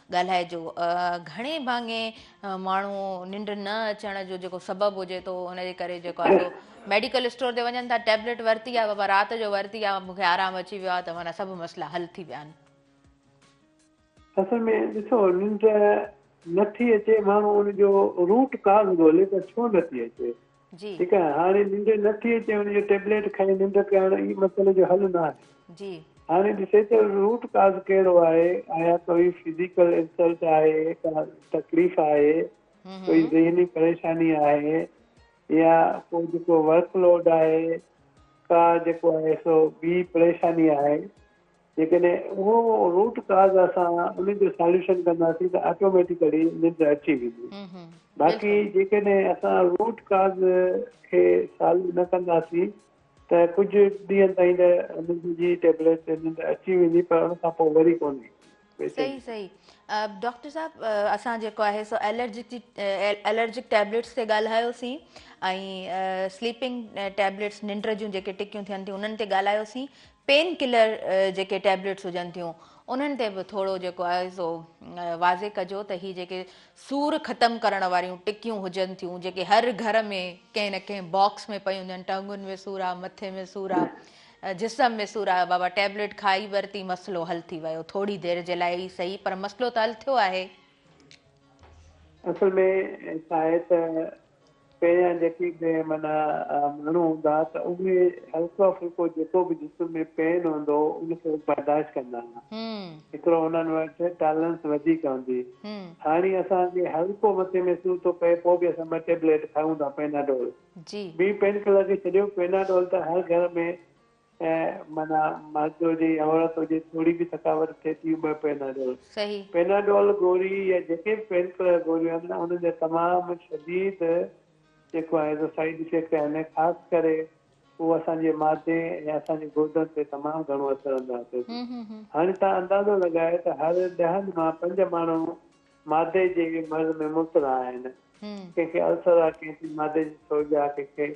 ڳالهائجو. گهڻي ڀاڱي ماڻهو ننڊ نه اچڻ جو جيڪو سبب هجي ٿو ان جي ڪري جيڪو آهي سو ميڊيڪل اسٽور تي وڃن ٿا ٽيبليٽ ورتي آهي بابا رات جو ورتي آهي مونکي آرام اچي ويو آهي ته مانا سڀ مسئلا حل ٿي ويا آهن. اصل ۾ ڏسو ننڊ نٿي اچي ماڻهو ان جو روٽ ڪاز ڳولي ته ڇو نٿي اچي. جي. ٺيڪ آهي هاڻي ننڊ نه ٿي اچي ان جو ٽيبليٽ کائي ننڊ پياڻ هي مسئلي جو حل نه آهي جي. هاڻي ڏسي ته روٽ ڪاز ڪهڙو آهي آيا ڪوئي فزيڪل انسلٽ آهي ڪا تڪليف آهي ڪوئي ذهني پريشاني آهي يا ڪو جيڪو ورڪ لوڊ آهي ڪا جيڪو آهي سو ٻي پريشاني آهي جيڪڏهن اهو روٽ ڪاز اسان ان جو ساليوشن ڪنداسين ته آٽوميٽيڪلي ننڊ اچي ويندي باقي جيڪڏهن اسان روٽ ڪاز کي سالو نه ڪنداسين ته ڪجهه ڏينهن تائين ته ننڊ جي ٽيبليٽ تي ننڊ اچي ويندي پر ان کان پوء وري ڪونه ايندي صحيح صحيح ڊاڪٽر صاحب اسان جيڪو آهي سو الرجڪ جي الرجڪ ٽيبليٽس تي ڳالهايوسين ۽ سليپنگ ٽيبليٽس ننڊ جون جيڪي ٽڪيون ٿين ٿيون انهن تي ڳالهايوسين پين ڪلر جيڪي ٽيبليٽس هجن ٿيون انهن تي به ٿورو جيڪو آهي سو واضح ڪجو ته هي جيڪي سور ختم ڪرڻ واريون ٽڪيون هجن ٿيون جيڪي هر گهر ۾ ڪنهن نه ڪنهن باڪس ۾ پيون هجن ٽنگن ۾ سور آ مٿي ۾ سور آ جسم ۾ سور آ بابا ٽيبليٽ کائي ورتي مسئلو حل ٿي ويو ٿوري دير جي لاء ئي سهي پر مسئلو ته حل ٿيو آهي. اصل ۾ ڇا آهي ته پهريان جيڪي به معنيٰ ماڻهو هوندا ته اهي هلڪو ڦلڪو جيڪو به جسم ۾ پين هوندو هو ان کي برداشت ڪندا هئا. ايترو انهن وٽ ٽالرنس وڌيڪ هوندي هئي. هاڻي اسان کي هلڪو مٿي ۾ سور ٿو پئي پوء به اسان ٻه ٽيبليٽ کائون ٿا پيناڊول. ٻي پين ڪلر کي ڇڏيو پيناڊول ته هر گهر ۾ ۽ معنيٰ مرد هجي يا عورت هجي ٿوري به ٿڪاوٽ ٿئي ٿي ٻه پيناڊول صحيح. پيناڊول گوري يا جيڪي به پين ڪلر گوريون آهن انهن جا تمام شديد جيڪو آهي سو سائيڊ افيڪٽ آهن ۽ خاص ڪري هو اسان جي معدي يا اسان جي گردن تي تمام گهڻو اثر انداز ٿئي ٿي. هاڻي تان اندازو لڳائي ته هر ڏهن مان پنج ماڻهو معدي جي به مرض ۾ مبتلا آهن. ڪنهن کي السر آهي، ڪنهن کي معدي جي سوڄ آهي، ڪنهن کي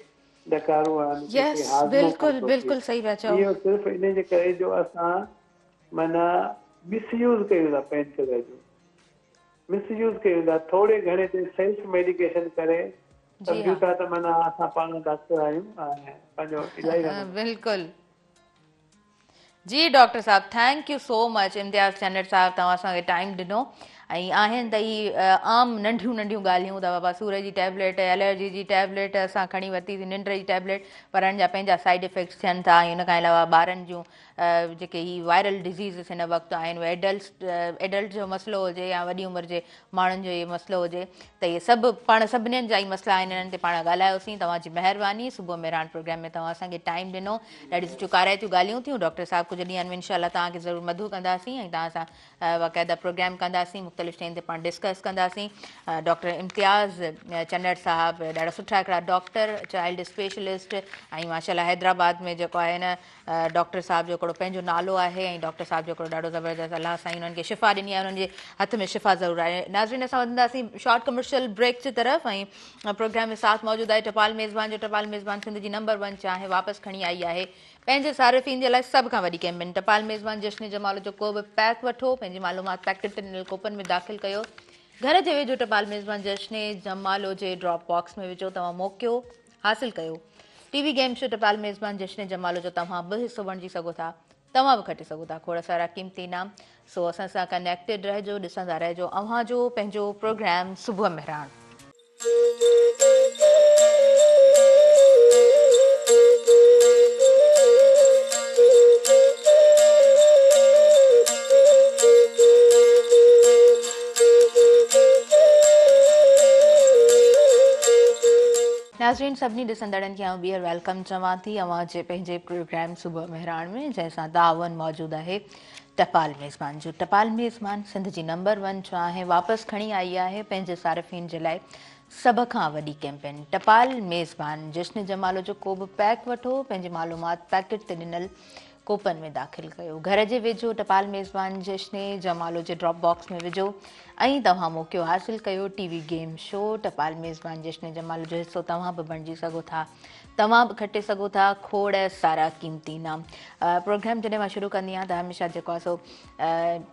ڏڪارو آهن، ڪنهن کي هاضمو ڪونه ٿو ٿئي. اهو صرف ان جي ڪري جو اسان معنيٰ مس يوز ڪيون ٿا پين ڪلر جو. مس يوز ڪيون ٿا. ٿوري گهڻي تي سيلف ميڊيڪيشن ڪري سمجهون ٿا ته معنيٰ اسان پاڻ ڊاڪٽر آهيون ۽ پنهنجو علاج هلندو. جي ڊاڪٽر صاحب thank you so much Imtiaz Chand صاحب توهان اسان کي ٽائيم ڏنو ۽ آهن ته هي عام ننڍيون ننڍيون ڳالهيون ته بابا سور جي ٽيبليٽ الرجي جي ٽيبليٽ اسان کڻي ورتيسي ننڊ جي ٽيبليٽ پر ان جا پنهنجا سائيڊ افيڪٽس ٿين ٿا ۽ ان کان علاوه ٻارن جون جيڪي هي وائرل ڊزيزز هن وقت آهن اهي ايڊلس ايڊلٽ جو مسئلو هجي يا وڏي عمر جي ماڻهن جو اهي مسئلو هجي ته اهي سڀ پاڻ سڀنين جا ئي مسئلا آهن انهن تي پاڻ ڳالهايوسين توهان جي مهرباني صبح مهراڻ پروگرام ۾ توهان اسان کي ٽائيم ڏنو ڏاڍي سٺيون ڪارائتيون ڳالهيون ٿيون ڊاڪٽر صاحب ڪجهه ڏينهن ۾ انشاء الله توهان کي ضرور مدعو ڪنداسين ۽ توهان سان باقاعده پروگرام ڪنداسين مختلف شين تي پاڻ ڊسڪس ڪنداسين ڊاڪٽر امتياز چنڙ صاحب ڏاڍا سٺا هڪڙا ڊاڪٽر چائلڊ اسپيشلسٽ ۽ ماشاء الله حيدرآباد ۾ جيڪو آهي ڊاڪٽر صاحب جو هڪڙو پنهنجو نالو آهي ۽ ڊاڪٽر صاحب جو هڪڙو ڏاڍو زبردست الله سائين انهن کي شفا ڏني آهي انهن جي هٿ ۾ شفا ضرور آهي ناظرين اسان وڌنداسين شارٽ ڪمرشل بريڪ جي طرف ۽ پروگرام ۾ ساٿ موجود آهي ٽپال ميزبان جو ٽپال ميزبان سنڌ جي نمبر ون چانهه واپس کڻي آئي آهي پنهنجي صارفين جي لاء سڀ کان وڏي ڪيمپين ٽپال ميزبان جشن جمال جو ڪو به پيڪ وٺو پنهنجي معلومات پيڪٽ تي ڏنل ڪوپن ۾ داخل ڪيو گهر جي ويجهو ٽپال ميزبان جشن جمالو جي ڊراپ باڪس ۾ وجهو توهان موقعو حاصل ڪيو ٽي وي گيم شو ٽپال ميزبان جشن جمالو جو توهان به حصو بڻجي سگهو ٿا توهان به کٽي سگهو ٿا کوڙ سارا قيمتي انعام سو اسان سان ڪنيڪٽيڊ رهجو ڏسندا رهجو اوهان جو پنهنجو پروگرام صبح مهراڻ ناظرين سڀني ڏسندڙن کي آئون ٻيهر ويلڪم چوان ٿي اوهان جي پنهنجي پروگرام صبح مهراڻ ۾ جنهن سان تعاون موجود آهي ٽپال ميزبان جو ٽپال ميزبان سنڌ جي نمبر ون چاهه واپس کڻي آئي آهي پنهنجي صارفين جي لاء سڀ کان وڏي ڪيمپين ٽپال ميزبان جشن جمالو جو ڪو به پيڪ وٺو پنهنجي معلومات پيڪٽ تي ڏنل ڪوپن ۾ داخل ڪيو، گهر جي ويجهو ٽپال ميزبان جشني جمالو جي ڊراپ باڪس ۾ وجهو ۽ توهان موقعو حاصل ڪيو ٽي وي گيم شو ٽپال ميزبان جشني جمالو جو حصو توهان به بڻجي سگهو ٿا توهان به کٽي سگهو ٿا کوڙ سارا قيمتي انعام پروگرام جڏهن مان شروع ڪندي آهيان ته هميشه جيڪو آهي سو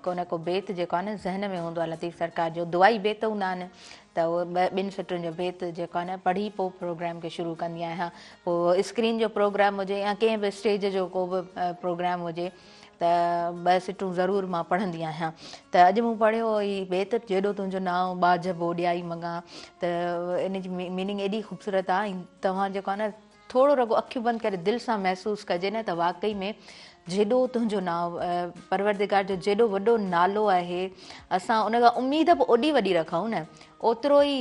ڪو نه ڪو بيت جيڪو آهي نه ذهن ۾ هوندو آهي لطيف سرڪار جو دعائي بيت هوندا آهن ته اهو ٻه ٻن سٽن جو بيت جيڪو آهي نه پڙهي پوء پروگرام کي شروع ڪندي آهيان پوء اسڪرين جو پروگرام هجي يا ڪنهن به اسٽيج جو ڪو به پروگرام هجي ته ٻه سٽون ضرور مان پڙهندي آهيان ته اڄ مون پڙهيو هو هي بيت جيڏو تنهنجو نانء ٻاجهه ٻوڏيائي مڱان ته ان جي ميننگ ايڏي خوبصورت آهي ۽ توهان جيڪو آهي نه ٿورو رڳو اکيون بند ڪري دل سان محسوس ڪجي نه ته واقعي ۾ جيڏو تنهنجو نانء پروردگار جو جيڏو وڏو نالو آهي اسان ان کان اميد به اوڏي وڏي رکون نه اوترو ئي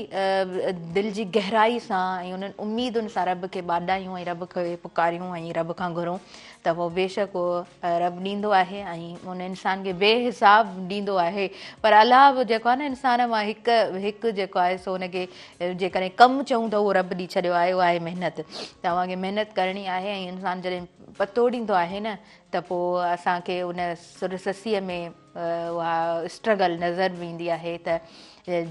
دل جي گهرائي سان ۽ انهن اميدن سان رب کي ٻاڏايون ۽ رب کي پڪاريون ۽ رب کان گهرون ته پوء بيشڪ اهو رب ڏيندو آهي ۽ ان انسان کي بي حساب ڏيندو آهي پر الله به جيڪو آهي نه انسان مان هڪ هڪ جيڪو آهي سو ان کي جيڪڏهن ڪم چئون ته اهو رب ڏي ڇڏيو آهي اهو آهي محنت ته اوهان کي محنت ڪرڻي آهي ۽ انسان جڏهن پتو ڏيندو آهي نه ته پوء اسان کي ان سر سسيء ۾ اها اسٽرگل نظر به ايندي آهي ته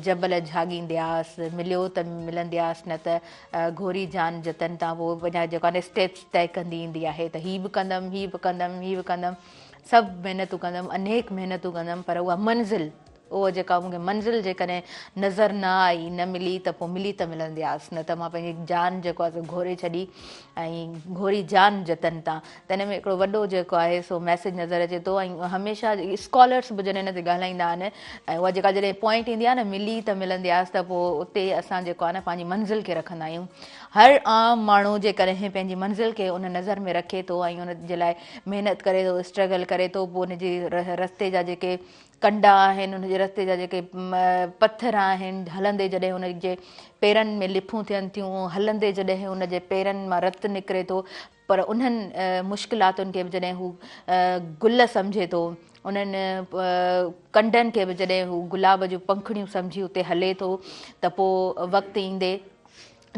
جبل جھاڳيندياس مليو ته ملندياس نه ته گھوري جان جتن تان پوء پنهنجا جيڪو آهي اسٽيپس طئي ڪندي ايندي آهي ته هي به ڪندم هي به ڪندم هي به ڪندم سڀ محنتون ڪندم انيڪ محنتون ڪندم پر اها منزل اوهه جيڪا مون کي منزل جيڪڏهن نظر نه آئي، نه ملي ته پوء ملي ته ملندي آس، نه ته مان پنهنجي جان جيڪو آهي سو گهوري ڇڏي ۽ گهوري جان جتن تان. ته ان ۾ هڪڙو وڏو جيڪو آهي سو ميسيج نظر اچي ٿو ۽ هميشه اسڪالرس به جڏهن ان تي ڳالهائيندا آهن ۽ اها جيڪا جڏهن پوائنٽ ايندي آهي نه ملي ته ملندي آس ته پوء اتي اسان جيڪو آهي نه پنهنجي منزل کي رکندا آهيون. هر عام ماڻهو جيڪڏهن پنهنجي منزل کي ان نظر ۾ رکي ٿو ۽ ان جي لاء محنت ڪري ٿو، اسٽرگل ڪري ٿو، پوء ان جي رستي جا جيڪي ڪنڊا آهن، ان جي رستي جا جيڪي پٿر آهن، هلندي جڏهن ان جي پيرن ۾ لڦون ٿين ٿيون، هلندي جڏهن ان جي پيرن مان رت نڪري ٿو، پر انهن مشڪلاتن کي به جڏهن هو گل سمجهي ٿو، انهن ڪنڊن کي به جڏهن هو گلاب جون پنکڙيون سمجهي اتي هلي ٿو ته پوء وقت ايندي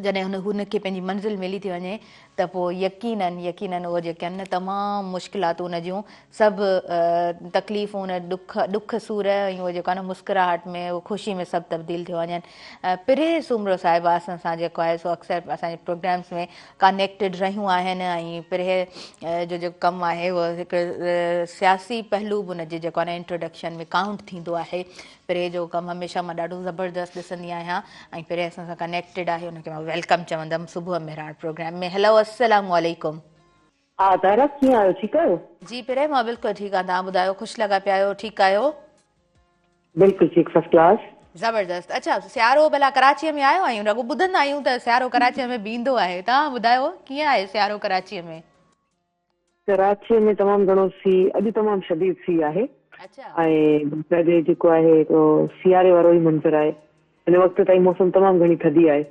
جڏهن هن کي پنهنجي منزل ملي ٿي وڃي ته پوء يقيناً يقيناً اهو جيڪي آهن نه تمام مشڪلاتون ان جون سڀ تڪليفون ان ڏک ڏک سور ۽ اهو جيڪو آهي نه مسڪراهٽ ۾ اهو خوشي ۾ سڀ تبديل ٿيو وڃن پري سومرو صاحبه اسان سان جيڪو آهي سو اڪثر اسان جي پروگرامس ۾ ڪانيڪٽيڊ رهيون آهن ۽ پري جو جيڪو ڪم آهي اهو هڪ سياسي پهلو به ان جي جيڪو آهي نه انٽروڊڪشن ۾ ڪائونٽ ٿيندو آهي پري جو ڪم هميشه مان ڏاڍو زبردست ڏسندي آهيان ۽ پري اسان سان ڪنيڪٽيڊ آهي ان کي مان ويلڪم چوندم صبح مهراڻ پروگرام ۾ هيلو السلام عليڪم. ها طاهره ڪيئن آهيو ٺيڪ آهيو. جي پري مان بلڪل ٺيڪ آهيان توهان ٻڌايو خوش لڳا پيا آهيو ٺيڪ آهيو. بلڪل ٺيڪ فرسٽ ڪلاس. زبردست اڇا سيارو ڀلا ڪراچي ۾ آيو آهيون رڳو ٻڌندا آهيون ته سيارو ڪراچي ۾ به ايندو آهي توهان ٻڌايو ڪيئن آهي سيارو ڪراچي ۾. ڪراچيء ۾ تمام گهڻو سي اڄ تمام شديد سي آهي ۽ باقاعدي جيڪو آهي اهو سياري وارو ئي منظر آهي. هن وقت تائين موسم تمام گهڻي ٿڌي آهي.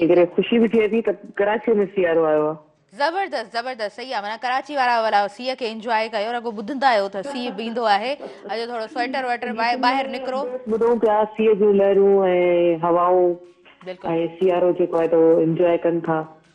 ان ڪري خوشي به ٿئي ٿي ته ڪراچيء ۾ سيارو آيو آهي. زبردست زبردست سهي آهي معنيٰ ڪراچي وارا ولا سي کي انجواء ڪيو رڳو ٻڌندا آهيو ته سي به ايندو آهي اڄ ٿورو سوئيٽر وئيٽر پائي ٻاهر نڪرو. ٻڌون پيا سي جون لهرون ۽ هوائون ۽ سيارو جيڪو آهي ته اهو انجواء ڪن ٿا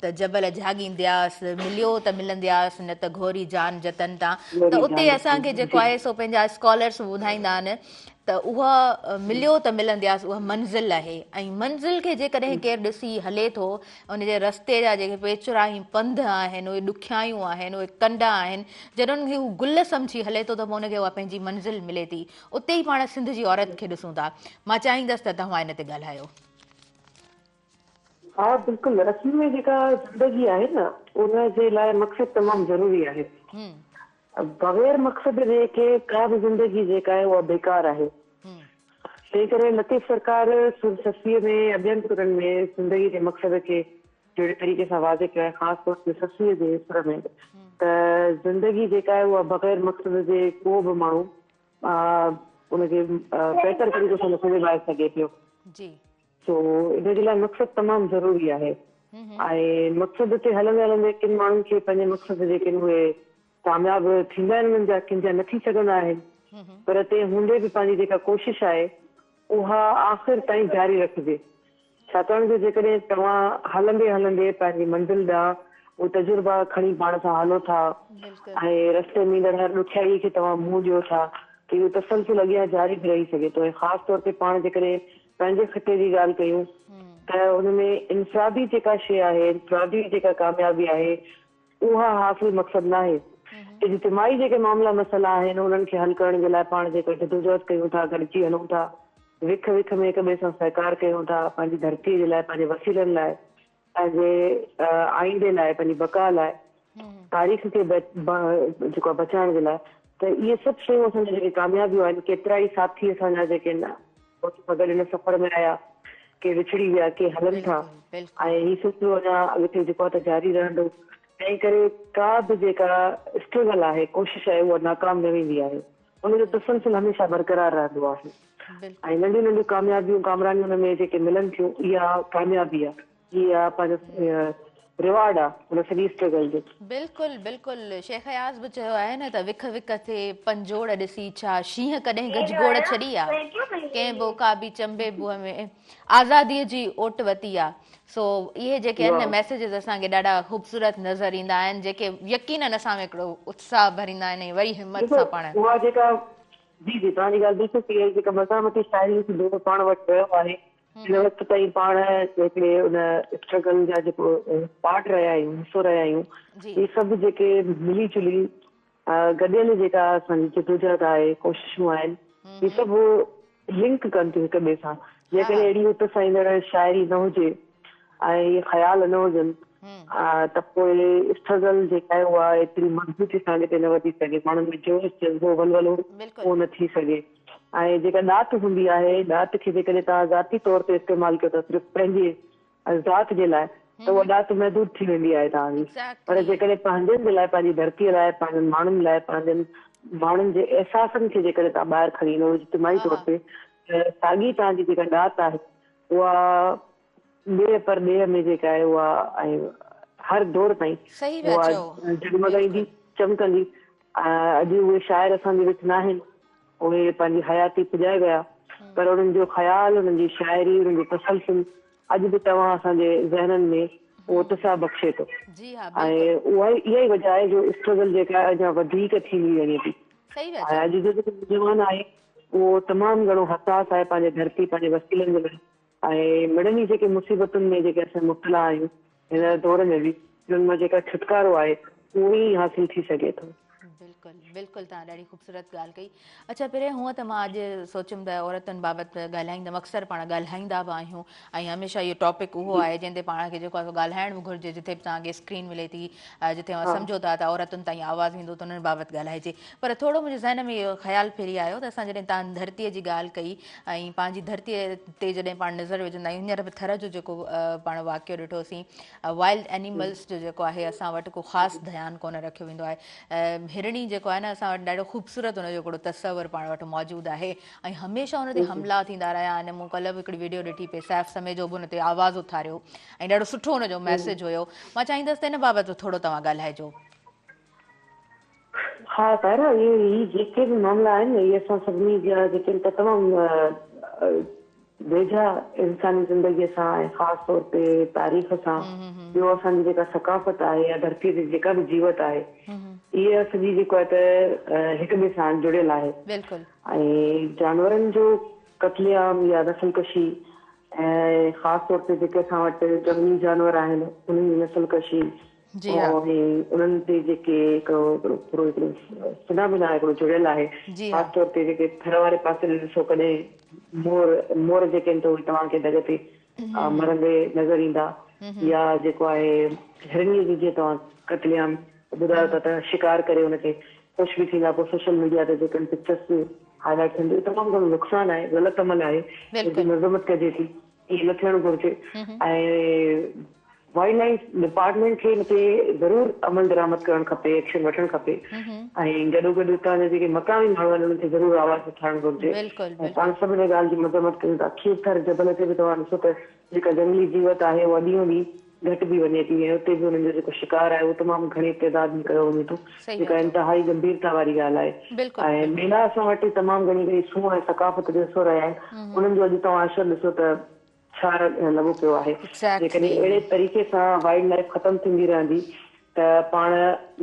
ته جبل جهاڳيندياس، مليو ته ملندياس، نه ته گهوري جان جتن تان. ته اتي اسان کي جيڪو آهي سو پنهنجا اسڪالرس ٻڌائيندا آهن ته اها مليو ته ملندياس اها منزل آهي ۽ منزل کي جيڪڏهن ڪير ڏسي هلي ٿو ان جي رستي جا جيڪي پيچرا ۽ پنڌ آهن اهي ڏکيائيون آهن اهي ڪنڊا آهن جڏهن ان کي هو گل سمجهي هلي ٿو ته پوء ان کي اها پنهنجي منزل ملي ٿي اتي ئي پاڻ سنڌ جي عورت کي ڏسون ٿا مان چاهيندس ته توهان ان تي ڳالهايو ها بلڪل اصل ۾ جيڪا زندگي آهي نه ان جي لاء مقصد تمام ضروري آهي بغير مقصد جي ڪي ڪا به زندگي جيڪا آهي اها بيڪار آهي تنهن ڪري لطيف سرڪار سر سسيء ۾ يا ٻين سرن ۾ زندگي جي مقصد کي جهڙي طريقي سان واضح ڪيو آهي خاص طور تي سسيء جي سر ۾ ته زندگي جيڪا آهي اها بغير مقصد جي ڪو به ماڻهو ان کي بهتر طريقي سان نٿو نڀائي سگهي پيو سو ان جي لاء مقصد تمام ضروري آهي ۽ مقصد تي هلندي هلندي ڪن ماڻهن کي پنهنجي مقصد جي ڪن اهي ڪامياب ٿيندا آهن انهن جا ڪن جا نه ٿي سگهندا آهن پر تنهن هوندي به پنهنجي جيڪا ڪوشش آهي اها آخر تائين جاري رکجي ڇاڪاڻ جو جيڪڏهن توهان هلندي هلندي پنهنجي منزل ڏانهن اهي تجربا کڻي پاڻ سان هلو ٿا ۽ رستي ۾ ايندڙ هر ڏکيائي کي توهان منهن ڏيو ٿا ته اهو تسلسل اڳيان جاري به رهي سگهي ٿو ۽ خاص طور تي پاڻ جيڪڏهن پنهنجي خطي جي ڳالهه ڪيون ته ان ۾ انفرادي جيڪا شيء آهي، انفرادي جيڪا ڪاميابي آهي، اها حاصل مقصد ناهي. اجتماعي جيڪي معاملا مسئلا آهن، انهن کي حل ڪرڻ جي لاء پاڻ جيڪا جدوجهد ڪيون ٿا، گڏجي هلون ٿا، وک وک ۾ هڪ ٻئي سان سهڪار ڪيون ٿا، پنهنجي ڌرتيء جي لاء، پنهنجي وسيلن لاء، پنهنجي آئيندي لاء، پنهنجي بقا لاء، تاريخ کي جيڪو آهي بچائڻ جي لاء ته اهي سڀ شيون اسان جون جيڪي ڪاميابيون آهن، ڪيترائي ساٿي اسان جا جيڪي ان موت سان گڏ ان سفر ۾ آيا، ڪي وڇڙي ويا، ڪي هلن ٿا ۽ هي سلسلو اڃا اڳتي جيڪو آهي ته جاري رهندو. تنهن ڪري ڪا به جيڪا اسٽرگل آهي، ڪوشش آهي اها ناڪام نه ويندي آهي. ان جو تسلسل هميشه برقرار رهندو آهي ۽ ننڍيون ننڍيون ڪاميابيون ڪامرانيون ۾ جيڪي ملن ٿيون اها ڪاميابي آ اها پنهنجو رواڊ آ ان سڄي اسٽرگل جو. بلڪل بلڪل شيخ اياز به چيو آهي نه ته وک وک ٿي پنجوڙ ڏسي ڇا شينهن ڪڏهن گجگوڙ ڇڏي آ ڪنهن به عقابي چنبي بوء ۾. آزادي جي اوٽ وتي آ سو اهي جيڪي آهن نه ميسيجز اسان کي ڏاڍا خوبصورت نظر ايندا آهن جيڪي يقينن اسان ۾ هڪڙو اتساهه ڀريندا آهن ۽ وري همت سان پاڻ اها جيڪا جي جي توهان جي ڳالهه بلڪل صحيح آهي جيڪا مزاح مٽي شاعري جو دور پاڻ وٽ رهيو آهي هن وقت تائين پاڻ هڪڙي ان اسٽرگل جا جيڪو پارٽ رهيا آهيون حصو رهيا آهيون اهي سڀ جيڪي ملي جلي گڏيل جيڪا اسان جي جدوجهد آهي، ڪوششون آهن، هي سڀ لنڪ ڪن ٿيون هڪ ٻئي سان. جيڪڏهن اهڙي هت سهيندڙ شاعري نه هجي ۽ اهي خيال نه هجن ته پوء اسٽرگل جيڪا آهي اها ايتري مضبوطي سان اڳتي نه وڌي سگهي، ماڻهن ۾ جوش، جذبو، ولولو اهو نه ٿي سگهي ۽ جيڪا ڏات هوندي آهي، ڏات کي جيڪڏهن توهان ذاتي طور تي استعمال ڪيو ٿا صرف پنهنجي ذات جي لاء ته اها ڏات محدود ٿي ويندي آهي توهان جي پر جيڪڏهن پنهنجن جي لاء پنهنجي ڌرتي لاء پنهنجن ماڻهن لاء پنهنجن ماڻهن جي احساسن کي جيڪڏهن توهان ٻاهر کڻي ايندو اجتماعي طور تي ته ساڳي توهان جي جيڪا ڏات آهي اها ڏيهه پر ڏيهه ۾ جيڪا آهي اها ۽ هر دور تائين اها جڳمڳائيندي چمڪندي اڄ اهي شاعر اسان جي وچ ناهن. اهي پنهنجي حياتي پڄائي ويا، پر انهن جو خيال، انهن جي شاعري، انهن جو تسلسل اڄ به توهان اسان جي ذهنن ۾ اهو اتساهه بخشي ٿو ۽ اها ئي وجهه آهي جو اسٽرگل جيڪا آهي اڃا وڌيڪ ٿيندي وڃي ٿي ۽ اڄ جو جيڪو نوجوان آهي اهو تمام گهڻو حساس آهي پنهنجي ڌرتي، پنهنجي وسيلن جي لاء. ۽ مڙني جي جيڪي مصيبتن ۾ جيڪي اسين مبتلا آهيون هن دور ۾ به انهن مان جيڪا ڇوٽڪارو آهي اهو ئي حاصل ٿي سگهي ٿو. بلڪل بلڪل تهان ڏاڍي خوبصورت ڳالهه ڪئي اڇا پرين هونء ته مان اڄ سوچيم ته عورتن بابت ڳالهائيندم اڪثر پاڻ ڳالهائيندا به آهيون ۽ هميشه اهو ٽاپڪ اهو آهي جنهن تي پاڻ کي جيڪو آهي سو ڳالهائڻ به گهرجي جتي به تهان کي اسڪرين ملي ٿي جتي اوهان سمجهو ٿا ته عورتن تائين آواز ويندو ته انهن بابت ڳالهائجي پر ٿورو منهنجي ذهن ۾ اهو خيال ڦري آيو ته اسان جڏهن تان ڌرتيء جي ڳالهه ڪئي ۽ پنهنجي ڌرتيء تي جڏهن پاڻ نظر وجهندا آهيون هينئر به ٿر جو جيڪو پاڻ واقعو ڏٺوسين وائلڊ اينيملز جو جيڪو آهي اسان وٽ ڪو خاص ڌيان ڪونه رکيو ويندو آهي هرڻي جيڪو آهي نه اسان وٽ ڏاڍو خوبصورت ان جو هڪڙو تصور پاڻ وٽ موجود آهي ۽ هميشه ان تي حملا ٿيندا رهيا آهن مون ڪلهه به هڪڙي ويڊيو ڏٺي پئي سيف سميجو به ان تي آواز اٿاريو ۽ ڏاڍو سٺو ان جو ميسج هيو مان چاهيندس ته ان بابت به ٿورو توهان ڳالهائجو ها طاهره اهي هي جيڪي به معاملا آهن اهي اسان سڀني جا جيڪي ته تمام ويجها انساني زندگي سان ۽ خاص طور تي تاريخ سان ٻيو اسان جي جيڪا ثقافت آهي يا ڌرتي تي جيڪا به جيوت آهي اهي سڄي جيڪو آهي ته هڪ ٻئي سان جڙيل آهي بلڪل ۽ جانورن جو قتل عام يا نسل ڪشي ۽ خاص طور تي جيڪي اسان وٽ جهنگلي جانور آهن انهن جي نسل ڪشي جي ها. ۽ انهن تي جيڪي هڪڙو پورو هڪڙو فنا بنا هڪڙو جڙيل آهي جي ها. خاص طور تي جيڪي ٿر واري پاسي ڏي ڏسو ڪڏهن مور مور جيڪي آهن ته اهي توهان کي ڍڳ تي مرندي نظر ايندا يا جيڪو آهي هرڻي جي جيئن توهان قتل عام ٻڌايو ٿا ته شڪار ڪري ان کي خوش به ٿيندا پوء سوشل ميڊيا تي جيڪي پڪچرس هائلائيٽ ٿين ٿيون تمام گهڻو نقصان آهي غلط عمل آهي ان جي بلڪل. مذمت ڪجي ٿي. ائين نه ٿيڻ گهرجي ۽ وائلڊ لائف ڊپارٽمينٽ کي ان تي ضرور عمل درآمد ڪرڻ کپي ايڪشن وٺڻ کپي ۽ گڏو گڏ اتان جا جيڪي مقامي ماڻهو آهن انهن کي ضرور آواز اٿارڻ گهرجي ۽ پاڻ سڀ ان ڳالهه جي مذمت ڪيون ٿا کير ٿر جبل تي به توهان ڏسو ته جيڪا جهنگلي جيوت آهي اها ڏينهون ڏينهن گهٽ به وڃي ٿي ۽ اتي به انهن جو جيڪو شڪار آهي اهو تمام گهڻي تعداد ۾ ڪيو وڃي ٿو صحيح جيڪا چئو انتهائي گنڀيرتا واري ڳالهه آهي بلڪل ۽ بلڪل ميلا اسان وٽ تمام گهڻي ڪري سون ۽ ثقافت جو حصو رهيا آهن انهن جو اڄ توهان عشر ڏسو ته ڇا لڳو پيو آهي جيڪڏهن اهڙي ايگزيڪٽلي طريقي سان وائلڊ لائيف ختم ٿيندي رهندي ته پاڻ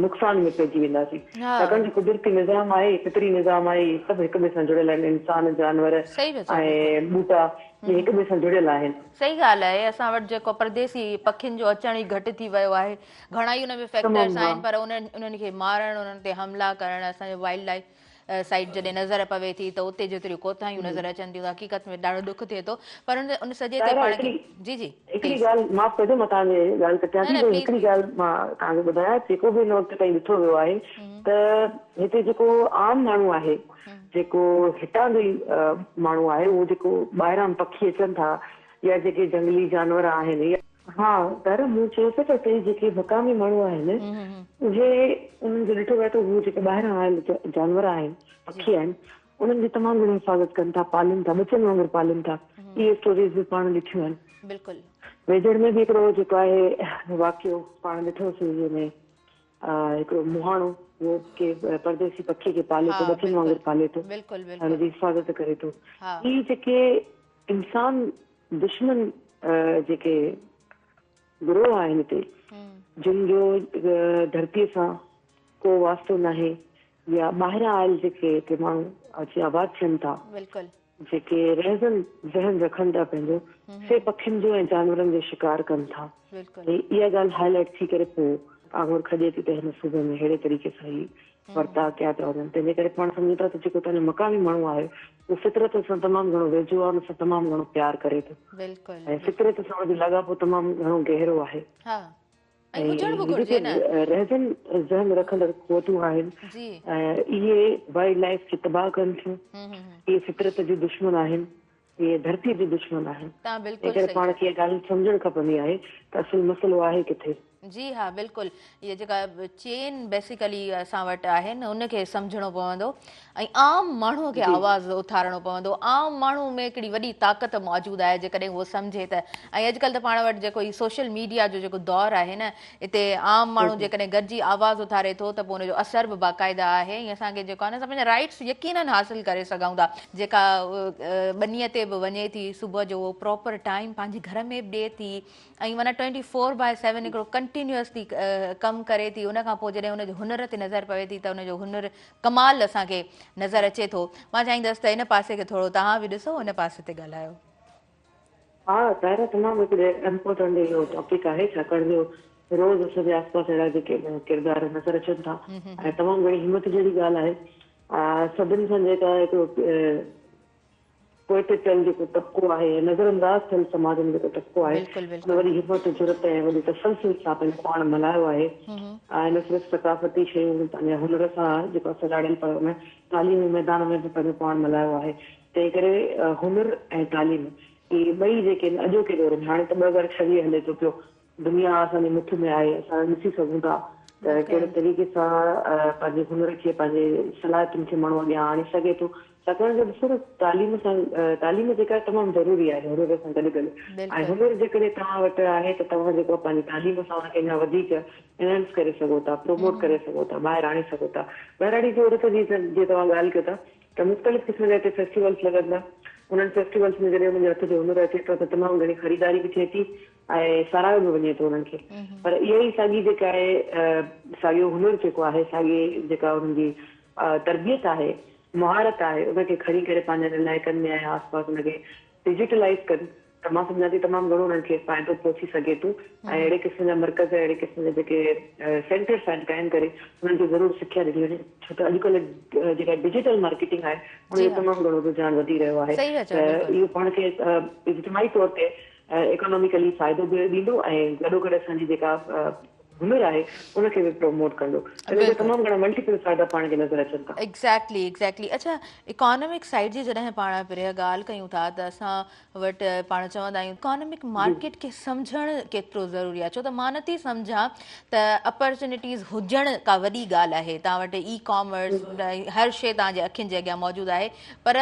نقصان ۾ پئجي وينداسين ڇاڪاڻ جو قدرتي نظام آهي فطري نظام آهي هي سڀ هڪ ٻئي سان جڙيل آهن انسان جانور ۽ ٻوٽا هي هڪ ٻئي سان جڙيل آهن. صحيح ڳالهه آهي اسان وٽ جيڪو پرديسي پکين جو اچڻ ئي گهٽ ٿي ويو آهي گهڻائي ان ۾ فيڪٽرس آهن پر انهن کي مارڻ انهن تي حملا ڪرڻ اسان جو وائلڊ لائيف سائيٽ جڏهن نظر پوي ٿي ته اتي جيتريون ڪوتاهيون نظر اچن ٿيون ته حقيقت ۾ ڏاڍو ڏک ٿئي ٿو پر ان ان سڄي تي پاڻ کي جي جي هڪڙي ڳالهه معاف ڪجو مان توهان جي ڳالهه ڪٽيان ٿي پر هڪڙي ڳالهه مان توهان کي ٻڌايان جيڪو به هن وقت تائين ڏٺو ويو آهي ته هتي جيڪو عام ماڻهو آهي جيڪو هتان جي ماڻهو آهي اهو جيڪو ٻاهران پکي اچن ٿا يا جيڪي جهنگلي جانور آهن يا ها پر مون چيو ته اتي جيڪي مقامي ماڻهو آهن اهي انهن کي ڏٺو ويو ته هو جيڪي ٻاهران آيل جانور آهن پکي آهن انهن جي تمام گهڻي حفاظت ڪن ٿا پالن ٿا ٻچن وانگر پالن ٿا اهي اسٽوريز به پاڻ ڏٺيون آهن بلڪل ويجهڙ ۾ به هڪڙو جيڪو آهي واقعو پاڻ ڏٺوسي جنهن ۾ هڪڙو مهاڻو هو ڪي پرديسي پکي کي پالي ٿو ٻچن وانگر پالي ٿو هن جي حفاظت ڪري ٿو هي جيڪي انسان دشمن جيڪي گروهه آهن هتي جن جو ڌرتي سان ڪو واسطو ناهي يا ٻاهران آيل جيڪي هتي ماڻهو اچي آباد ٿين ٿا جيڪي رهزن ذهن رکن ٿا پنهنجو سي پکين جو ۽ جانورن جو شڪار ڪن ٿا اها ڳالهه هاء لائيٽ ٿي ڪري پوء آڱر کڄي ٿي ته هن صوبي ۾ ههڙي طريقي سان هي ورتاء ڪيا پيا وڃن تنهنجي ڪري پاڻ سمجهون ٿا ته جيڪو تنهنجو مقامي ماڻهو آهي هو فطرت سان تمام گهڻو ويجهو آهي، ان سان تمام گهڻو پيار ڪري ٿو ۽ فطرت سان ان جو لاڳاپو تمام گهڻو گهرو آهي ۽ هي جيڪي رهجن ذهن رکندڙ قوتون آهن اهي وائلڊ لائيف کي تباهه ڪن ٿيون، اهي فطرت جون دشمن آهن، اهي ڌرتي جون دشمن آهن، تنهنڪري پاڻ کي اها ڳالهه سمجهڻ کپندي آهي ته اصل مسئلو آهي ڪٿي. جي ها بلڪل هي جيڪا چين بيسيڪلي اسان وٽ آهي نه ان کي سمجهڻو پوندو ۽ عام ماڻهو کي آواز اٿارڻو پوندو عام ماڻهو ۾ هڪڙي وڏي طاقت موجود آهي جيڪڏهن هو سمجهي ته ۽ اڄڪلهه ته پاڻ وٽ جيڪو هي سوشل ميڊيا جو جيڪو دور آهي نه اتي عام ماڻهو جيڪڏهن گڏجي آواز اٿاري ٿو ته پوء ان جو اثر به باقاعده آهي ۽ اسان کي جيڪو آهي نه پنهنجا رائٽس يقينن حاصل ڪري سگهون ٿا جيڪا ٻنيء تي به وڃي ٿي صبح جو پراپر ٽائيم پنهنجي گهر ۾ به ڏي ٿي ۽ معنيٰ ٽوئنٽي فور باء سيون هڪڙو ڪنٽينيوس ٿي ڪم ڪري ٿي ان کان پوء جڏهن ان جي هنر تي نظر پوي ٿي ته ان جو هنر ڪمال اسان کي نظر اچي ٿو مان چاهيندس ته ان پاسي کي ٿورو توهان به ڏسو ان پاسي تي ڳالهايو ها ظاهر تمام هڪڙي امپورٽنٽ اهو ٽاپڪ آهي ڇاڪاڻ جو روز اسانجي آس پاس اهڙا جيڪي ڪردار نظر اچن ٿا ۽ تمام گهڻي همت جهڙي ڳالهه آهي سڀن سان جيڪا هڪڙو پوء ته چل جيڪو طبقو آهي ۽ نظر انداز ٿيل سماج ۾ جيڪو طبقو آهي بلڪل ان بلڪل. وڏي همت، جرئت ۽ وڏي تسلسل سان پنهنجو پاڻ ملهايو آهي ۽ نه صرف ثقافتي شيون پنهنجا هنر سان جيڪو اسان ڄاڻيل پر ان تعليمي ميدان ۾ به پنهنجو پاڻ ملهايو آهي تنهن ڪري هنر ۽ تعليم اهي ٻئي جيڪي آهن اڄوڪي دور ۾ هاڻي ته ٻه هزار ڇويهه هلي ٿو پيو دنيا اسان جي مٺ ۾ آهي اسان ڏسي سگهون ٿا ته ڪهڙي طريقي سان پنهنجي هنر کي پنهنجي صلاحيتن کي ماڻهو اڳيان آڻي سگهي ٿو ڇاڪاڻ جو ڏسو ته تعليم سان تعليم جيڪا تمام ضروري آهي هنر سان گڏ گڏ ۽ هنر جيڪڏهن توهان وٽ آهي ته توهان جيڪو آهي پنهنجي تعليم سان ان کي اڃا وڌيڪ انهانس ڪري سگهو ٿا پروموٽ ڪري سگهو ٿا ٻاهر آڻي سگهو ٿا ٻهراڙي جي عورت جي جي توهان ڳالهه ڪيو ٿا ته مختلف قسم جا هتي فيسٽيولس لڳندا انهن فيسٽيولس ۾ جڏهن انهن جي هٿ جو هنر اچي ٿو ته تمام گهڻي خريداري به ٿئي ٿي ۽ ساراهيو به وڃي ٿو انهن کي پر اها ئي ساڳي جيڪا آهي ساڳيو هنر جيڪو آهي ساڳي جيڪا انهن جي تربيت آهي مهارت آهي ان کي کڻي ڪري پنهنجن علائقن ۾ ۽ آس پاس ان کي ڊجيٽلائز ڪن ته مان سمجهان ٿي تمام گهڻو انهن کي فائدو پهچي سگهي ٿو ۽ اهڙي قسم جا مرڪز اهڙي قسم جا جيڪي سينٽرس آهن قائم ڪري انهن کي ضرور سکيا ڏني وڃي ڇو ته اڄڪلهه جيڪا ڊجيٽل مارڪيٽنگ آهي ان جو تمام گهڻو رجحان وڌي رهيو آهي ته اهو پاڻ کي اجتماعي طور تي ايڪاناميڪلي فائدو به ڏيندو ۽ گڏوگڏ اسان جي جيڪا هنر آهي ان کي به پروموٽ ڪندو ان جا تمام گهڻا ملٽيپل فائدا پاڻ کي نظر اچن ٿا. ايگزيڪٽلي ايگزيڪٽلي اڇا ايڪانامڪ سائيڊ جي جڏهن پاڻ پريا ڳالهه ڪيون ٿا ته اسان وٽ پاڻ چوندا آهيون ايڪانامڪ مارڪيٽ کي سمجهڻ ڪيترو ضروري آهي ڇو ته مان نٿي سمجهان ته اپرچونيٽيز هجڻ ڪا وڏي ڳالهه آهي توهان وٽ اي ڪامرس هر شي توهان جي اکين جي اڳيان موجود آهي پر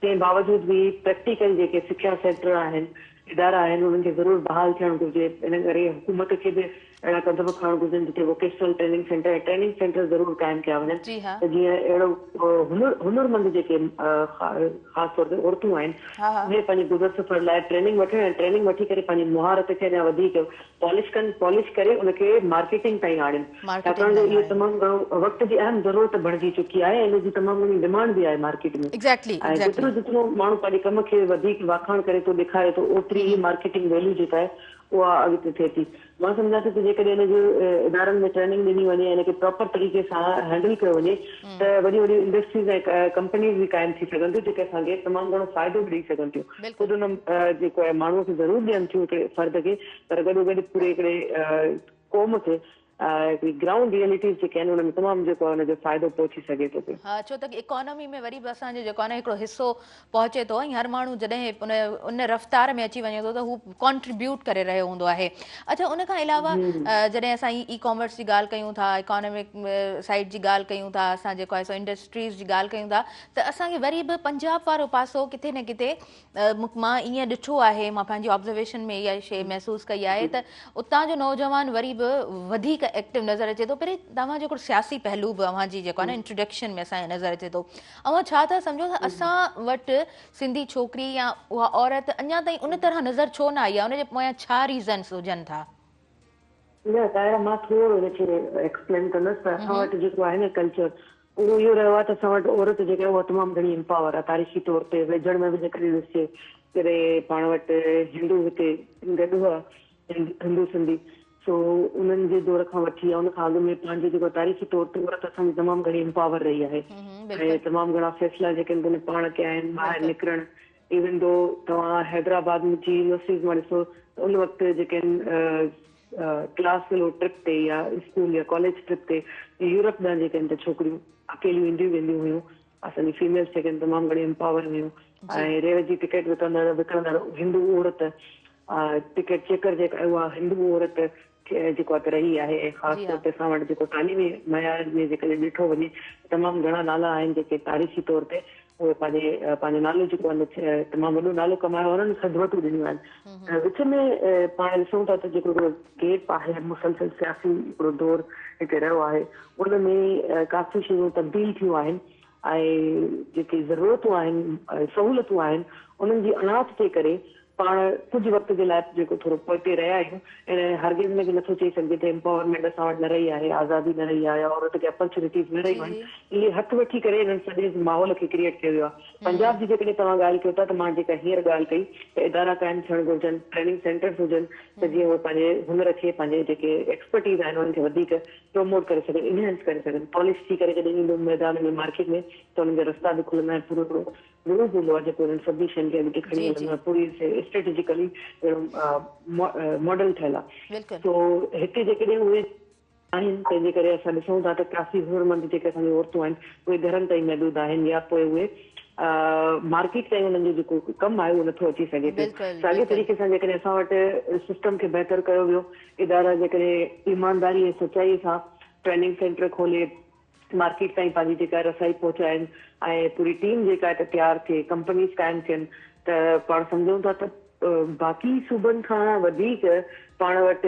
تنهن باوجود به پريڪٽيڪل جيڪي سکيا سينٽر آهن، ادارا آهن انهن کي ضرور بحال ٿيڻ گهرجي، ان ڪري حڪومت کي به اهڙا قدم کڻڻ گهرجن جتي vocational training centre ۽ training centre ضرور قائم ڪيا وڃن جي ها. ته جيئن اهڙو هنر هنرمند جيڪي خاص طور تي عورتون آهن اهي پنهنجي گذر سفر لاء ٽريننگ وٺن ۽ ٽريننگ وٺي ڪري پنهنجي مهارت کي اڃا وڌيڪ پالش ڪن، Polish، ڪري ان کي مارڪيٽنگ تائين آڻين، ڇاڪاڻ جو اهو تمام گهڻو وقت جي اهم ضرورت بڻجي چڪي آهي ۽ ان جي تمام گهڻي ڊمانڊ به آهي مارڪيٽ ۾ ۽ جيترو جيترو ماڻهو پنهنجي ڪم کي وڌيڪ واکاڻ ڪري ٿو ڏيکاري ٿو اوتري ئي مارڪيٽنگ ويليو جيڪا آهي اها اڳتي ٿئي ٿي مان سمجهان ٿي ته جيڪڏهن ان جي ادارن ۾ ٽريننگ ڏني وڃي ۽ ان کي پراپر طريقي سان هينڊل ڪيو وڃي ته وڏيون وڏيون انڊسٽريز ۽ ڪمپنيز به قائم ٿي سگهن ٿيون جيڪي اسان کي تمام گهڻو فائدو به ڏئي سگهن ٿيون. خود بلڪل. ان جيڪو آهي ماڻهوء کي ضرور ڏين ٿيون هڪڙي فرد کي پر گڏو گڏ پوري هڪڙي قوم کي هڪڙي گرائونڊ ريئلٽيز جيڪي آهن ان ۾ تمام جيڪو آهي ان جو فائدو پهچي سگهي ٿو پيو. ها ڇو ته اڪانومي ۾ وري به اسان جو جيڪو آهي نه هڪڙو حصو پهچي ٿو ۽ هر ماڻهو جڏهن ان ان رفتار ۾ اچي وڃي ٿو ته هو ڪانٽريبيوٽ ڪري رهيو هوندو آهي. اڇا ان کان علاوه جڏهن اسان اي ڪامرس جي ڳالهه ڪيون ٿا اڪانومڪ سائيڊ جي ڳالهه ڪيون ٿا اسان جيڪو آهي سو انڊسٽريز جي ڳالهه ڪيون ٿا ته اسان کي وري به پنجاب وارو پاسو ڪٿي نه ڪٿي مان ائين ڏٺو آهي مان پنهنجي آبزرويشن ۾ اها شيء محسوس ڪئي آهي ته اتان جو نوجوان وري به وڌيڪ ايڪٽو نظر اچي ٿو پري توهان جو هڪڙو سياسي پهلو به اوهان جي جيڪو آهي نه انٽروڊڪشن ۾ اسان کي نظر اچي ٿو اوهان ڇا ٿا سمجهو ته اسان وٽ سنڌي ڇوڪري يا اها عورت اڃا تائين ان طرح نظر ڇو نه آئي آهي ان جي پويان ڇا ريزنس هجن ٿا نه طاهره مان ٿورو ان کي ايڪسپلين ڪندس ته اسان وٽ جيڪو آهي نه ڪلچر اهو اهو رهيو آهي ته اسان وٽ عورت جيڪا آهي اها تمام گهڻي امپاور آهي تاريخي طور تي ويجهڙ ۾ به جيڪڏهن ڏسجي جڏهن پاڻ وٽ هندو هتي گڏ هئا هندو سنڌي سو انهن جي دور کان وٺي يا ان کان اڳ ۾ پنهنجو جيڪو تاريخي طور تي عورت اسان جي تمام گهڻي امپاور رهي آهي ۽ تمام گهڻا فيصلا جيڪي آهن تن پاڻ ڪيا آهن ٻاهر نڪرڻ ايون دو توهان حيدرآباد جي يونيورسٽيز مان ڏسو ته ان وقت جيڪي آهن ڪلاس فيلو ٽرپ تي يا اسڪول يا ڪاليج ٽرپ تي يورپ ڏانهن جيڪي هن ڇوڪريون اڪيليون اينديون وينديون هيون اسان جي فيميلس جيڪي تمام گهڻي امپاور هيون ۽ ريل جي ٽڪيٽ وڪندڙ وڪڻندڙ هندو عورت ٽڪيٽ چيڪر جيڪا اها هندو عورت جيڪو ات رهي آهي ۽ خاص طور تي اسان وٽ جيڪو تعليمي معيار ۾ جيڪڏهن ڏٺو وڃي تمام گهڻا نالا آهن جيڪي تاريخي طور تي اهي پنهنجي پنهنجو نالو جيڪو آهي نه تمام وڏو نالو ڪمايو آهي انهن سنڌوتون ڏنيون آهن ۽ وچ ۾ پاڻ ڏسون ٿا ته جيڪو هڪڙو گيپ آهي مسلسل سياسي هڪڙو دور هتي رهيو آهي ان ۾ ڪافي شيون تبديل ٿيون آهن ۽ جيڪي ضرورتون آهن سهولتون آهن انهن جي اڻاٺ جي ڪري پاڻ ڪجهه وقت جي لاء جيڪو ٿورو پوئتي رهيا آهيون اهڙي ۾ هرگز ۾ به نٿو چئي سگهجي ته Empowerment اسان وٽ نه رهي آهي، آزادي نه رهي آهي، عورت کي Opportunities نه رهيون آهن، اهي هٿ وٺي ڪري انهن سڄي ماحول کي Create ڪيو ويو آهي. پنجاب جي جيڪڏهن توهان ڳالهه ڪيو ٿا ته مان جيڪا هينئر ڳالهه ڪئي ته ادارا قائم ٿيڻ گهرجن، Training Centers هجن ته جيئن اهي پنهنجي هنر کي پنهنجي جيڪي Expertise آهن انهن کي وڌيڪ Promote ڪري سگهن، Enhance ڪري سگهن، Polish ٿي ڪري جڏهن ايندو ميدان ۾ Market ۾ ته انهن جا رستا به کلندا ۽ پورو هڪڙو ضرور هوندو آهي جيڪو انهن سڀني شين کي اڳتي کڻي هلندو آهي پوري اسٽريٽجيڪلي اهڙو ماڊل ٺهيل آهي سو هتي جيڪڏهن اهي آهن تنهن جي ڪري اسان ڏسون ٿا ته ڪافي هنرمند جيڪي اسان جون عورتون آهن اهي گهرن تائين محدود آهن يا پوء اهي مارڪيٽ تائين انهن جو جيڪو ڪم آهي اهو نٿو اچي سگهي پيو ساڳي طريقي سان جيڪڏهن اسان وٽ سسٽم کي بهتر ڪيو ويو ادارا جيڪڏهن ايمانداري ۽ سچائي سان ٽريننگ سينٽر کولي مارڪيٽ تائين پنهنجي جيڪا رسائي پهچائن ۽ پوري ٽيم جيڪا هتي تيار ٿئي ڪمپنيز قائم ٿين ته پاڻ سمجهون ٿا ته باقي صوبن کان وڌيڪ پاڻ وٽ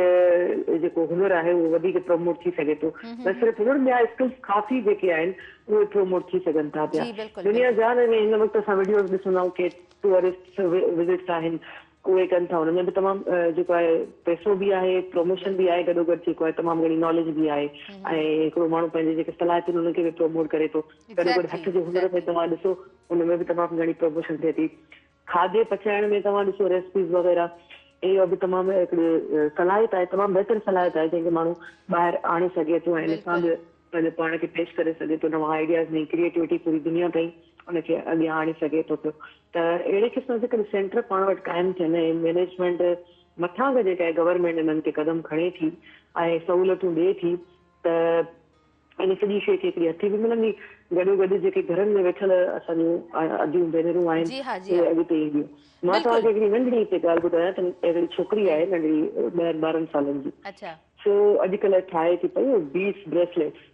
جيڪو هنر آهي اهو وڌيڪ پروموٽ ٿي سگهي ٿو نه صرف هنر ٻيا اسڪلز ڪافي جيڪي آهن اهي پروموٽ ٿي سگهن ٿا پيا دنيا جهان ۾ هن وقت اسان وڊيوز ڏسون ٿا ڪي ٽوئرسٽ وزٽس آهن اهي ڪن ٿا ان ۾ به تمام جيڪو آهي پئسو به آهي پروموشن به آهي گڏو گڏ جيڪو آهي تمام گهڻي ناليج به آهي ۽ هڪڙو ماڻهو پنهنجي جيڪي صلاحيتون انهن کي به پروموٽ ڪري ٿو گڏو گڏ هٿ جي هنر ۾ توهان ڏسو ان ۾ به تمام گهڻي پروموشن ٿئي ٿي کاڌي پچائڻ ۾ توهان ڏسو ريسپيز وغيره اهو به تمام هڪڙي صلاحيت آهي تمام بهتر صلاحيت آهي جنهن کي ماڻهو ٻاهر آڻي سگهي ٿو ۽ ان سان به پنهنجو پاڻ کي پيش ڪري سگهي ٿو، نوان آئيڊياز، نئين ڪريئيٽوٽي پوري دنيا تائين ان کي اڳيان آڻي سگهي ٿو پيو ته اهڙي قسم جي ڪڏهن سينٽر پاڻ وٽ قائم ٿين ۽ مينيجمينٽ مٿان کان جيڪا گورنمينٽ انهن کي قدم کڻي ٿي ۽ سهولتون ڏئي ٿي ته ان سڄي شيء کي هڪڙي هٿي به ملندي گڏوگڏ جيڪي گهرن ۾ ويٺل اسان جون اديون ڀينرون آهن جي ها جي اهي ها اڳتي اينديون مان توهان کي بلڪل هڪڙي ننڍڙي هتي ڳالهه ٻڌايان ته هڪڙي ڇوڪري جي آهي ننڍڙي ڏهن ٻارهن سالن جي اڇا. سو اڄڪلهه ٺاهي ٿي پئي بيڊس بريسليٽس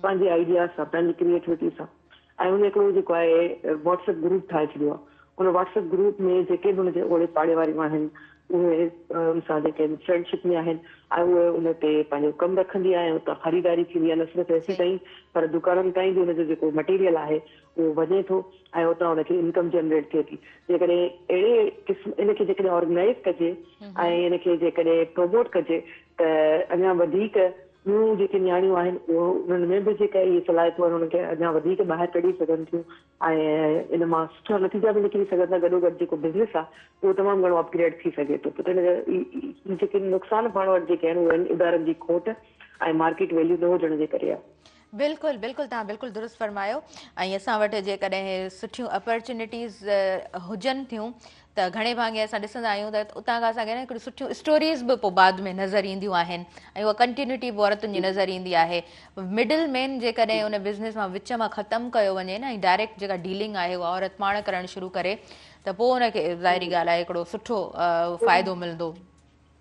پنهنجي آئيڊيا سان پنهنجي ڪريئيٽوٽي سان ۽ ان هڪڙو جيڪو آهي واٽس اپ گروپ ٺاهي ڇڏيو آهي ان واٽس اپ گروپ ۾ جيڪي به ان جي اوڙي پاڙي واريون آهن اهي ان سان جيڪي فرينڊ شپ ۾ آهن ۽ اهي ان تي پنهنجو ڪم رکندي آهي ۽ اتان خريداري ٿيندي آهي نه صرف ايسي تائين پر دڪانن تائين به ان جو جيڪو مٽيريل آهي اهو وڃي ٿو ۽ اتان ان کي انڪم جنريٽ ٿئي ٿي جيڪڏهن اهڙي قسم ان کي جيڪڏهن آرگنائيز ڪجي ۽ ان کي جيڪڏهن پروموٽ ڪجي ته اڃان وڌيڪ ٻيون جيڪي نياڻيون آهن اهو انهن ۾ به جيڪا اهي صلاحيتون آهن انهن کي اڃان وڌيڪ ٻاهر ڪڍي سگهن ٿيون ۽ ان مان سٺا نتيجا به نڪري سگهن ٿا گڏو گڏ جيڪو بزنس آهي اهو تمام گهڻو اپگريڊ ٿي سگهي ٿو ته ان جيڪي نقصان پاڻ وٽ جيڪي آهن اهي ادارن جي کوٽ ۽ مارڪيٽ ويليو نه هجڻ جي ڪري آهي. بلڪل بلڪل توهان بلڪل درست فرمايو ۽ اسان وٽ جيڪڏهن سٺيون اپرچونيٽيز هجن ٿيون ته گهڻي ڀاڱي اسان ڏسندا آهيون ته اتان کان اسانکي هڪڙيون سٺيون اسٽوريز به پوء بعد ۾ نظر اينديون آهن ۽ اها ڪنٽينيوٽي به عورتن جي نظر ايندي آهي مڊل مين جيڪڏهن ان بزنس مان وچ مان ختم ڪيو وڃي نه ۽ ڊائريڪٽ جيڪا ڊيلنگ آهي اها عورت پاڻ ڪرڻ شروع ڪري ته پوء ان کي ظاهري ڳالهه آهي هڪڙو سٺو فائدو ملندو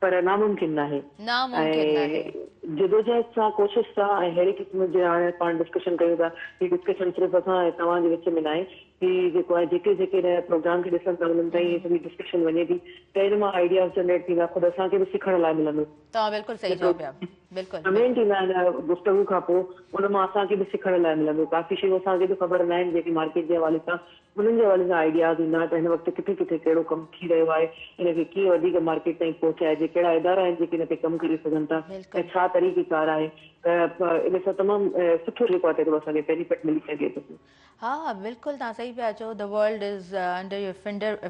پر ناممڪن ناهي. ناممڪن ناهي. ۽ جدوجهد سان ڪوشش سان ۽ ههڙي قسم جي هاڻي پاڻ ڊسڪشن ڪيون ٿا. هي ڊسڪشن صرف اسان ۽ توهان جي وچ ۾ ناهي. هي جيڪو آهي جيڪي جيڪي هن پروگرام کي ڏسن ٿا انهن تائين هي سڄي ڊسڪشن وڃي ٿي ته ان مان آئيڊياز جنريٽ ٿيندا خود اسان کي به سکڻ لاء ملندو. توهان بلڪل صحيح چئو پيا. بلڪل. ڪمينٽ ايندا آهن گفتگو کان پوء ان مان اسان کي به سکڻ لاء ملندو. ڪافي شيون اسان کي به خبر ناهن جيڪي مارڪيٽ جي حوالي سان انهن جي حوالي سان آئيڊياز ايندا ته هن وقت ڪٿي ڪٿي ڪهڙو ڪم ٿي رهيو آهي، ان کي ڪيئن وڌيڪ مارڪيٽ تائين پهچائجي، ڪهڙا ادارا آهن جيڪي ان تي ڪم ڪري سگهن ٿا ۽ ڇا طريقي ڪار آهي ته ان سان تمام سٺو جيڪو آهي تيڪو اسان کي بينيفٽ ملي سگهي ٿو پيو. ها ها بلڪل توهان صحيح پيا چئو The world is under your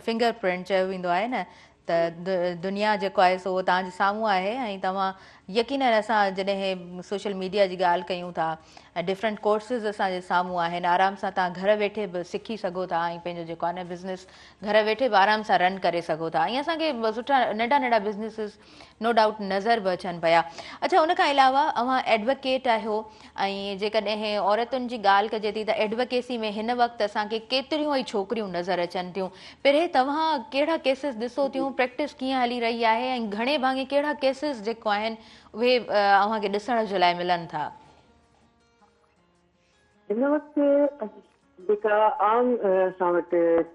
finger print چيو ويندو آهي نه ته دنيا جيڪو آهي سو اهو توهان جي سامهون آهي ۽ توهان يقينن اسان جڏهن سوشل ميڊيا جي ڳالهه ڪيون ٿا ۽ ڊفرنٽ ڪورسز اسان جي سامهون آهن آرام سان توهان گهر ويٺي به سکي سگهو ٿا ۽ پنهنجو جيڪو آهي بزنس گهر ويٺي به آرام سان رن ڪري سگهو ٿا ۽ اسان کي سٺا ننڍا ننڍا بزنسز نو ڊائوٽ نظر به اچن پيا اڇا ان کان علاوه اوهان ايڊوڪيٽ آهيو ۽ جيڪڏهن عورتن جي ڳالهه ڪجي ٿي ته ايڊوڪيسي ۾ هن وقت اسان کي ڪيتريون ئي ڇوڪريون نظر اچن ٿيون. پرهي توهان ڪهڙا ڪيسز ڏسو ٿيون، پريڪٽس ڪيئن هلي رهي آهي ۽ گهڻي ڀاڱي ڪهڙا ڪيسز جيڪو آهن اهي اوهان کي ڏسڻ جي لاء ملن ٿا. هن وقت جيڪا عام اسان وٽ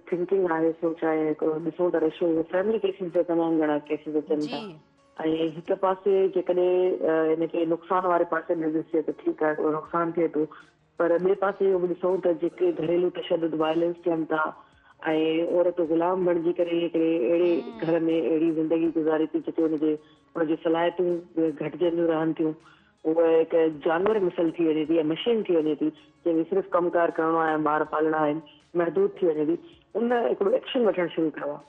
ٿنڪنگ آهي سوچ آهي هڪڙو ڏسون ته ريشو اهو فيملي ڪيسز جا تمام گهڻا ڪيسز اچن ٿا ۽ هڪ پاسي جيڪڏهن ان کي نقصان واري پاسي ڏي ڏسجي ته ٺيڪ آهي هڪڙو نقصان ٿئي ٿو پر ٻئي پاسي اهو به ڏسون ته جيڪي گهريلو تشدد وائلنس ٿين ٿا ۽ عورت غلام بڻجي ڪري هڪڙي اهڙي گهر ۾ اهڙي زندگي گذاري ٿي جتي ان جي ان جي صلاحيتون گهٽجنديون رهن ٿيون هوء هڪ جانور مثل ٿي وڃي ٿي يا مشين ٿي وڃي ٿي، جنهن کي صرف ڪم ڪار ڪرڻو آهي ۽ ٻار پالڻا آهن، محدود ٿي وڃي ٿي. ان هڪڙو ايڪشن وٺڻ شروع ڪيو آهي.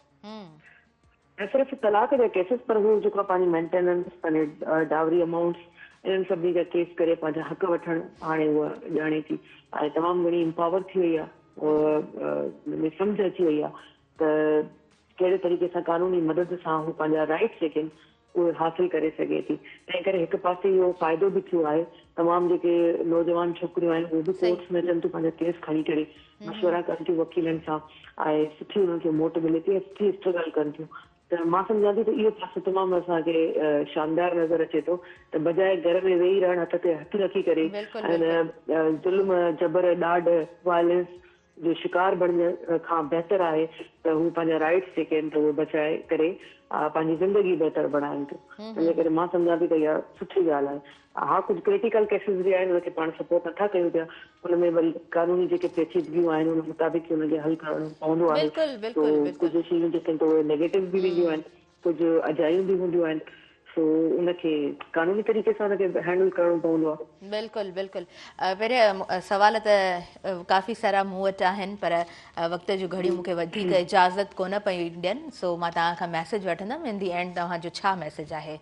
نه صرف طلاق جا ڪيسز پر هوء جيڪو آهي پنهنجي مينٽيننس، پنهنجي ڊائوري امائونٽس، انهن سڀني جا ڪيس ڪري پنهنجا حق وٺڻ هاڻي هوء ڄاڻي ٿي ۽ تمام گهڻي امپاور ٿي وئي آهي. هوء ۾ سمجهه اچي وئي آهي ته ڪهڙي طريقي سان قانوني مدد سان هوء پنهنجا رائيٽس جيڪي آهن اهي حاصل ڪري سگهي ٿي تنهن ڪري هڪ پاسي اهو فائدو به ٿيو آهي تمام جيڪي نوجوان ڇوڪريون آهن اهي به ڪورٽس ۾ اچن ٿيون پنهنجا ڪيس کڻي ڪري مشورا ڪن ٿيون وڪيلن سان ۽ سٺي انهن کي موٽ ملي ٿي ۽ سٺي اسٽرگل ڪن ٿيون ته مان سمجهان ٿي ته اهو پاسو تمام اسان کي شاندار نظر اچي ٿو ته بجاء گهر ۾ ويهي رهڻ هٿ تي هٿ رکي ڪري ۽ ظلم جبر ڏاڍ وائلنس جو شڪار بڻجڻ کان بهتر آهي ته هو پنهنجا رائيٽس جيڪي آهن ته اهي بچائي ڪري پنهنجي زندگي بهتر بڻائين ٿيون تنهنجي ڪري مان سمجهان ٿي ته اها سٺي ڳالهه آهي ها ڪجهه ڪريٽيڪل ڪيسز به آهن ان کي پاڻ سپورٽ نٿا ڪيون پيا ان ۾ وري قانوني جيڪي پيچيدگيون آهن ان مطابق ان کي حل ڪرڻو پوندو آهي تو ڪجهه شيون جيڪي آهن ته اهي نيگيٽو به وينديون آهن ڪجهه اجايون به هونديون آهن سو ان کي قانوني طريقي سان ان کي هينڊل ڪرڻو پوندو آهي. بلڪل بلڪل پريا سوال ته ڪافي سارا مون وٽ آهن پر وقت جون گهڙيون مون کي وڌيڪ اجازت ڪونه پيون ڏين سو مان توهان کان ميسج وٺندم ان دي اينڊ توهان جو ڇا ميسج آهي.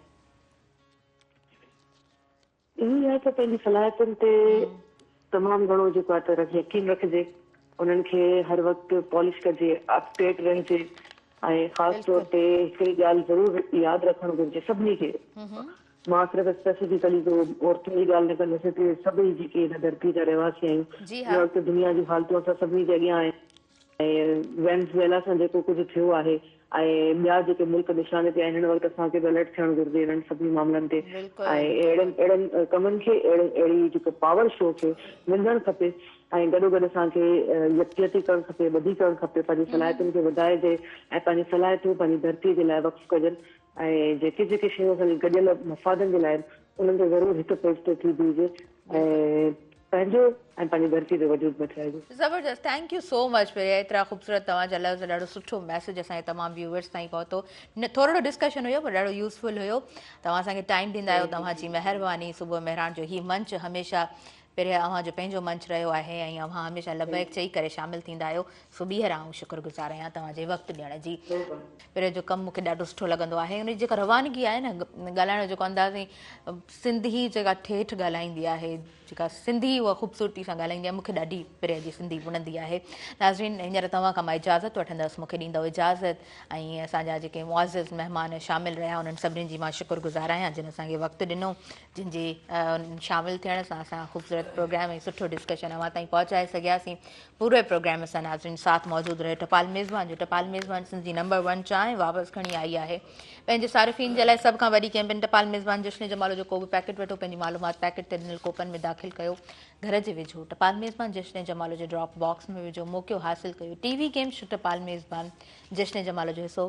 اهو ئي آهي ته پنهنجي صلاحيتن تي تمام گهڻو جيڪو آهي ته يقين رکجي، انهن کي هر وقت پالش ڪجي، اپ ڊيٽ رهجي ۽ خاص طور تي هڪڙي ڳالهه ضرور ياد رکڻ گهرجي سڀني کي، مان صرف اسپيسيفڪلي ڪو عورتن جي ڳالهه نه ڪندس، هتي سڀئي جيڪي هن ڌرتي جا رهواسي آهيون، هن وقت دنيا جون حالتون اسان سڀني جي اڳيان آهن. ۽ وينزويلا سان جيڪو ڪجهه ٿيو آهي ۽ ٻيا جيڪي ملڪ نشاني تي آهن هن وقت اسان کي به الرٽ ٿيڻ گهرجي انهن سڀني معاملن تي بلڪل ۽ اهڙن بلڪل اهڙن ڪمن کي اهڙي اهڙي جيڪو پاور شو کي نندڻ کپي ۽ گڏو گڏ اسان کي يڪجهتي ڪرڻ کپي ٻڌي ڪرڻ کپي پنهنجي صلاحيتن کي وڌائجي ۽ پنهنجي صلاحيتون پنهنجي ڌرتي جي لاء وقف ڪجن ۽ جيڪي جيڪي شيون اسان جي گڏيل مفادن جي لاء آهن انهن کي ضرور هڪ پيج تي ٿي بيهجي ۽ پنهنجو ۽ پنهنجي ڌرتي جو وجود بچائجي. زبردست thank you so much Priya ايترا خوبصورت توهان جا لفظ ڏاڍو سٺو ميسج اسان جي تمام ويوورس تائين پهتو ٿورڙو ڊسڪشن هيو پر ڏاڍو يوزفل هيو توهان اسان کي ٽائيم ڏيندا آهيو توهان جي مهرباني صبح مهراڻ جو هي منچ هميشه پريا اوهان جو پنهنجو منچ رهيو آهي ۽ اوهان هميشه لبيڪ چئي ڪري شامل ٿيندا آهيو سو ٻيهر آئون شڪر گذار آهيان توهان جي وقت ڏيڻ جي پريا جو ڪم مون کي ڏاڍو سٺو لڳندو آهي ان جي جيڪا روانگي آهي نه ڳالهائڻ جو جيڪو انداز ۽ سنڌي جيڪا ٺيٺ ڳالهائيندي آهي جيڪا سنڌي اها خوبصورتي سان ڳالهائيندي آهي مون کي ڏاڍي پريا جي سنڌي وڻندي آهي ناظرين هينئر توهان کان مان اجازت وٺندس مون کي ڏيندو اجازت ۽ اسان جا جيڪي معزز مهمان شامل رهيا انهن سڀني جي مان شڪر گذار آهيان جن اسان کي وقت ڏنو جن جي شامل ٿيڻ سان اسان خوبصورت پروگرام ۽ سٺو ڊسڪشن اوهان تائين پهچائي سگهياسين پوري پروگرام سان ناظرين ساٿ موجود رهيو ٽپال ميزبان جو ٽپال ميزبان سنڌ جي نمبر ون چانهه واپس کڻي آئي آهي پنهنجي صارفين جي لاء سڀ کان وڏي ڪيمپين ٽپال ميزبان جشن جمالو جو ڪو به پيڪيٽ وٺو پنهنجي معلومات پيڪيٽ تي ڏنل ڪوپن ۾ داخل ڪيو گهر جي وجهو ٽپال ميزبان جشن جمالو جو ڊراپ باڪس ۾ وجهو موقعو حاصل ڪيو ٽي وي گيم ٽپال ميزبان جشن جمالو جو حصو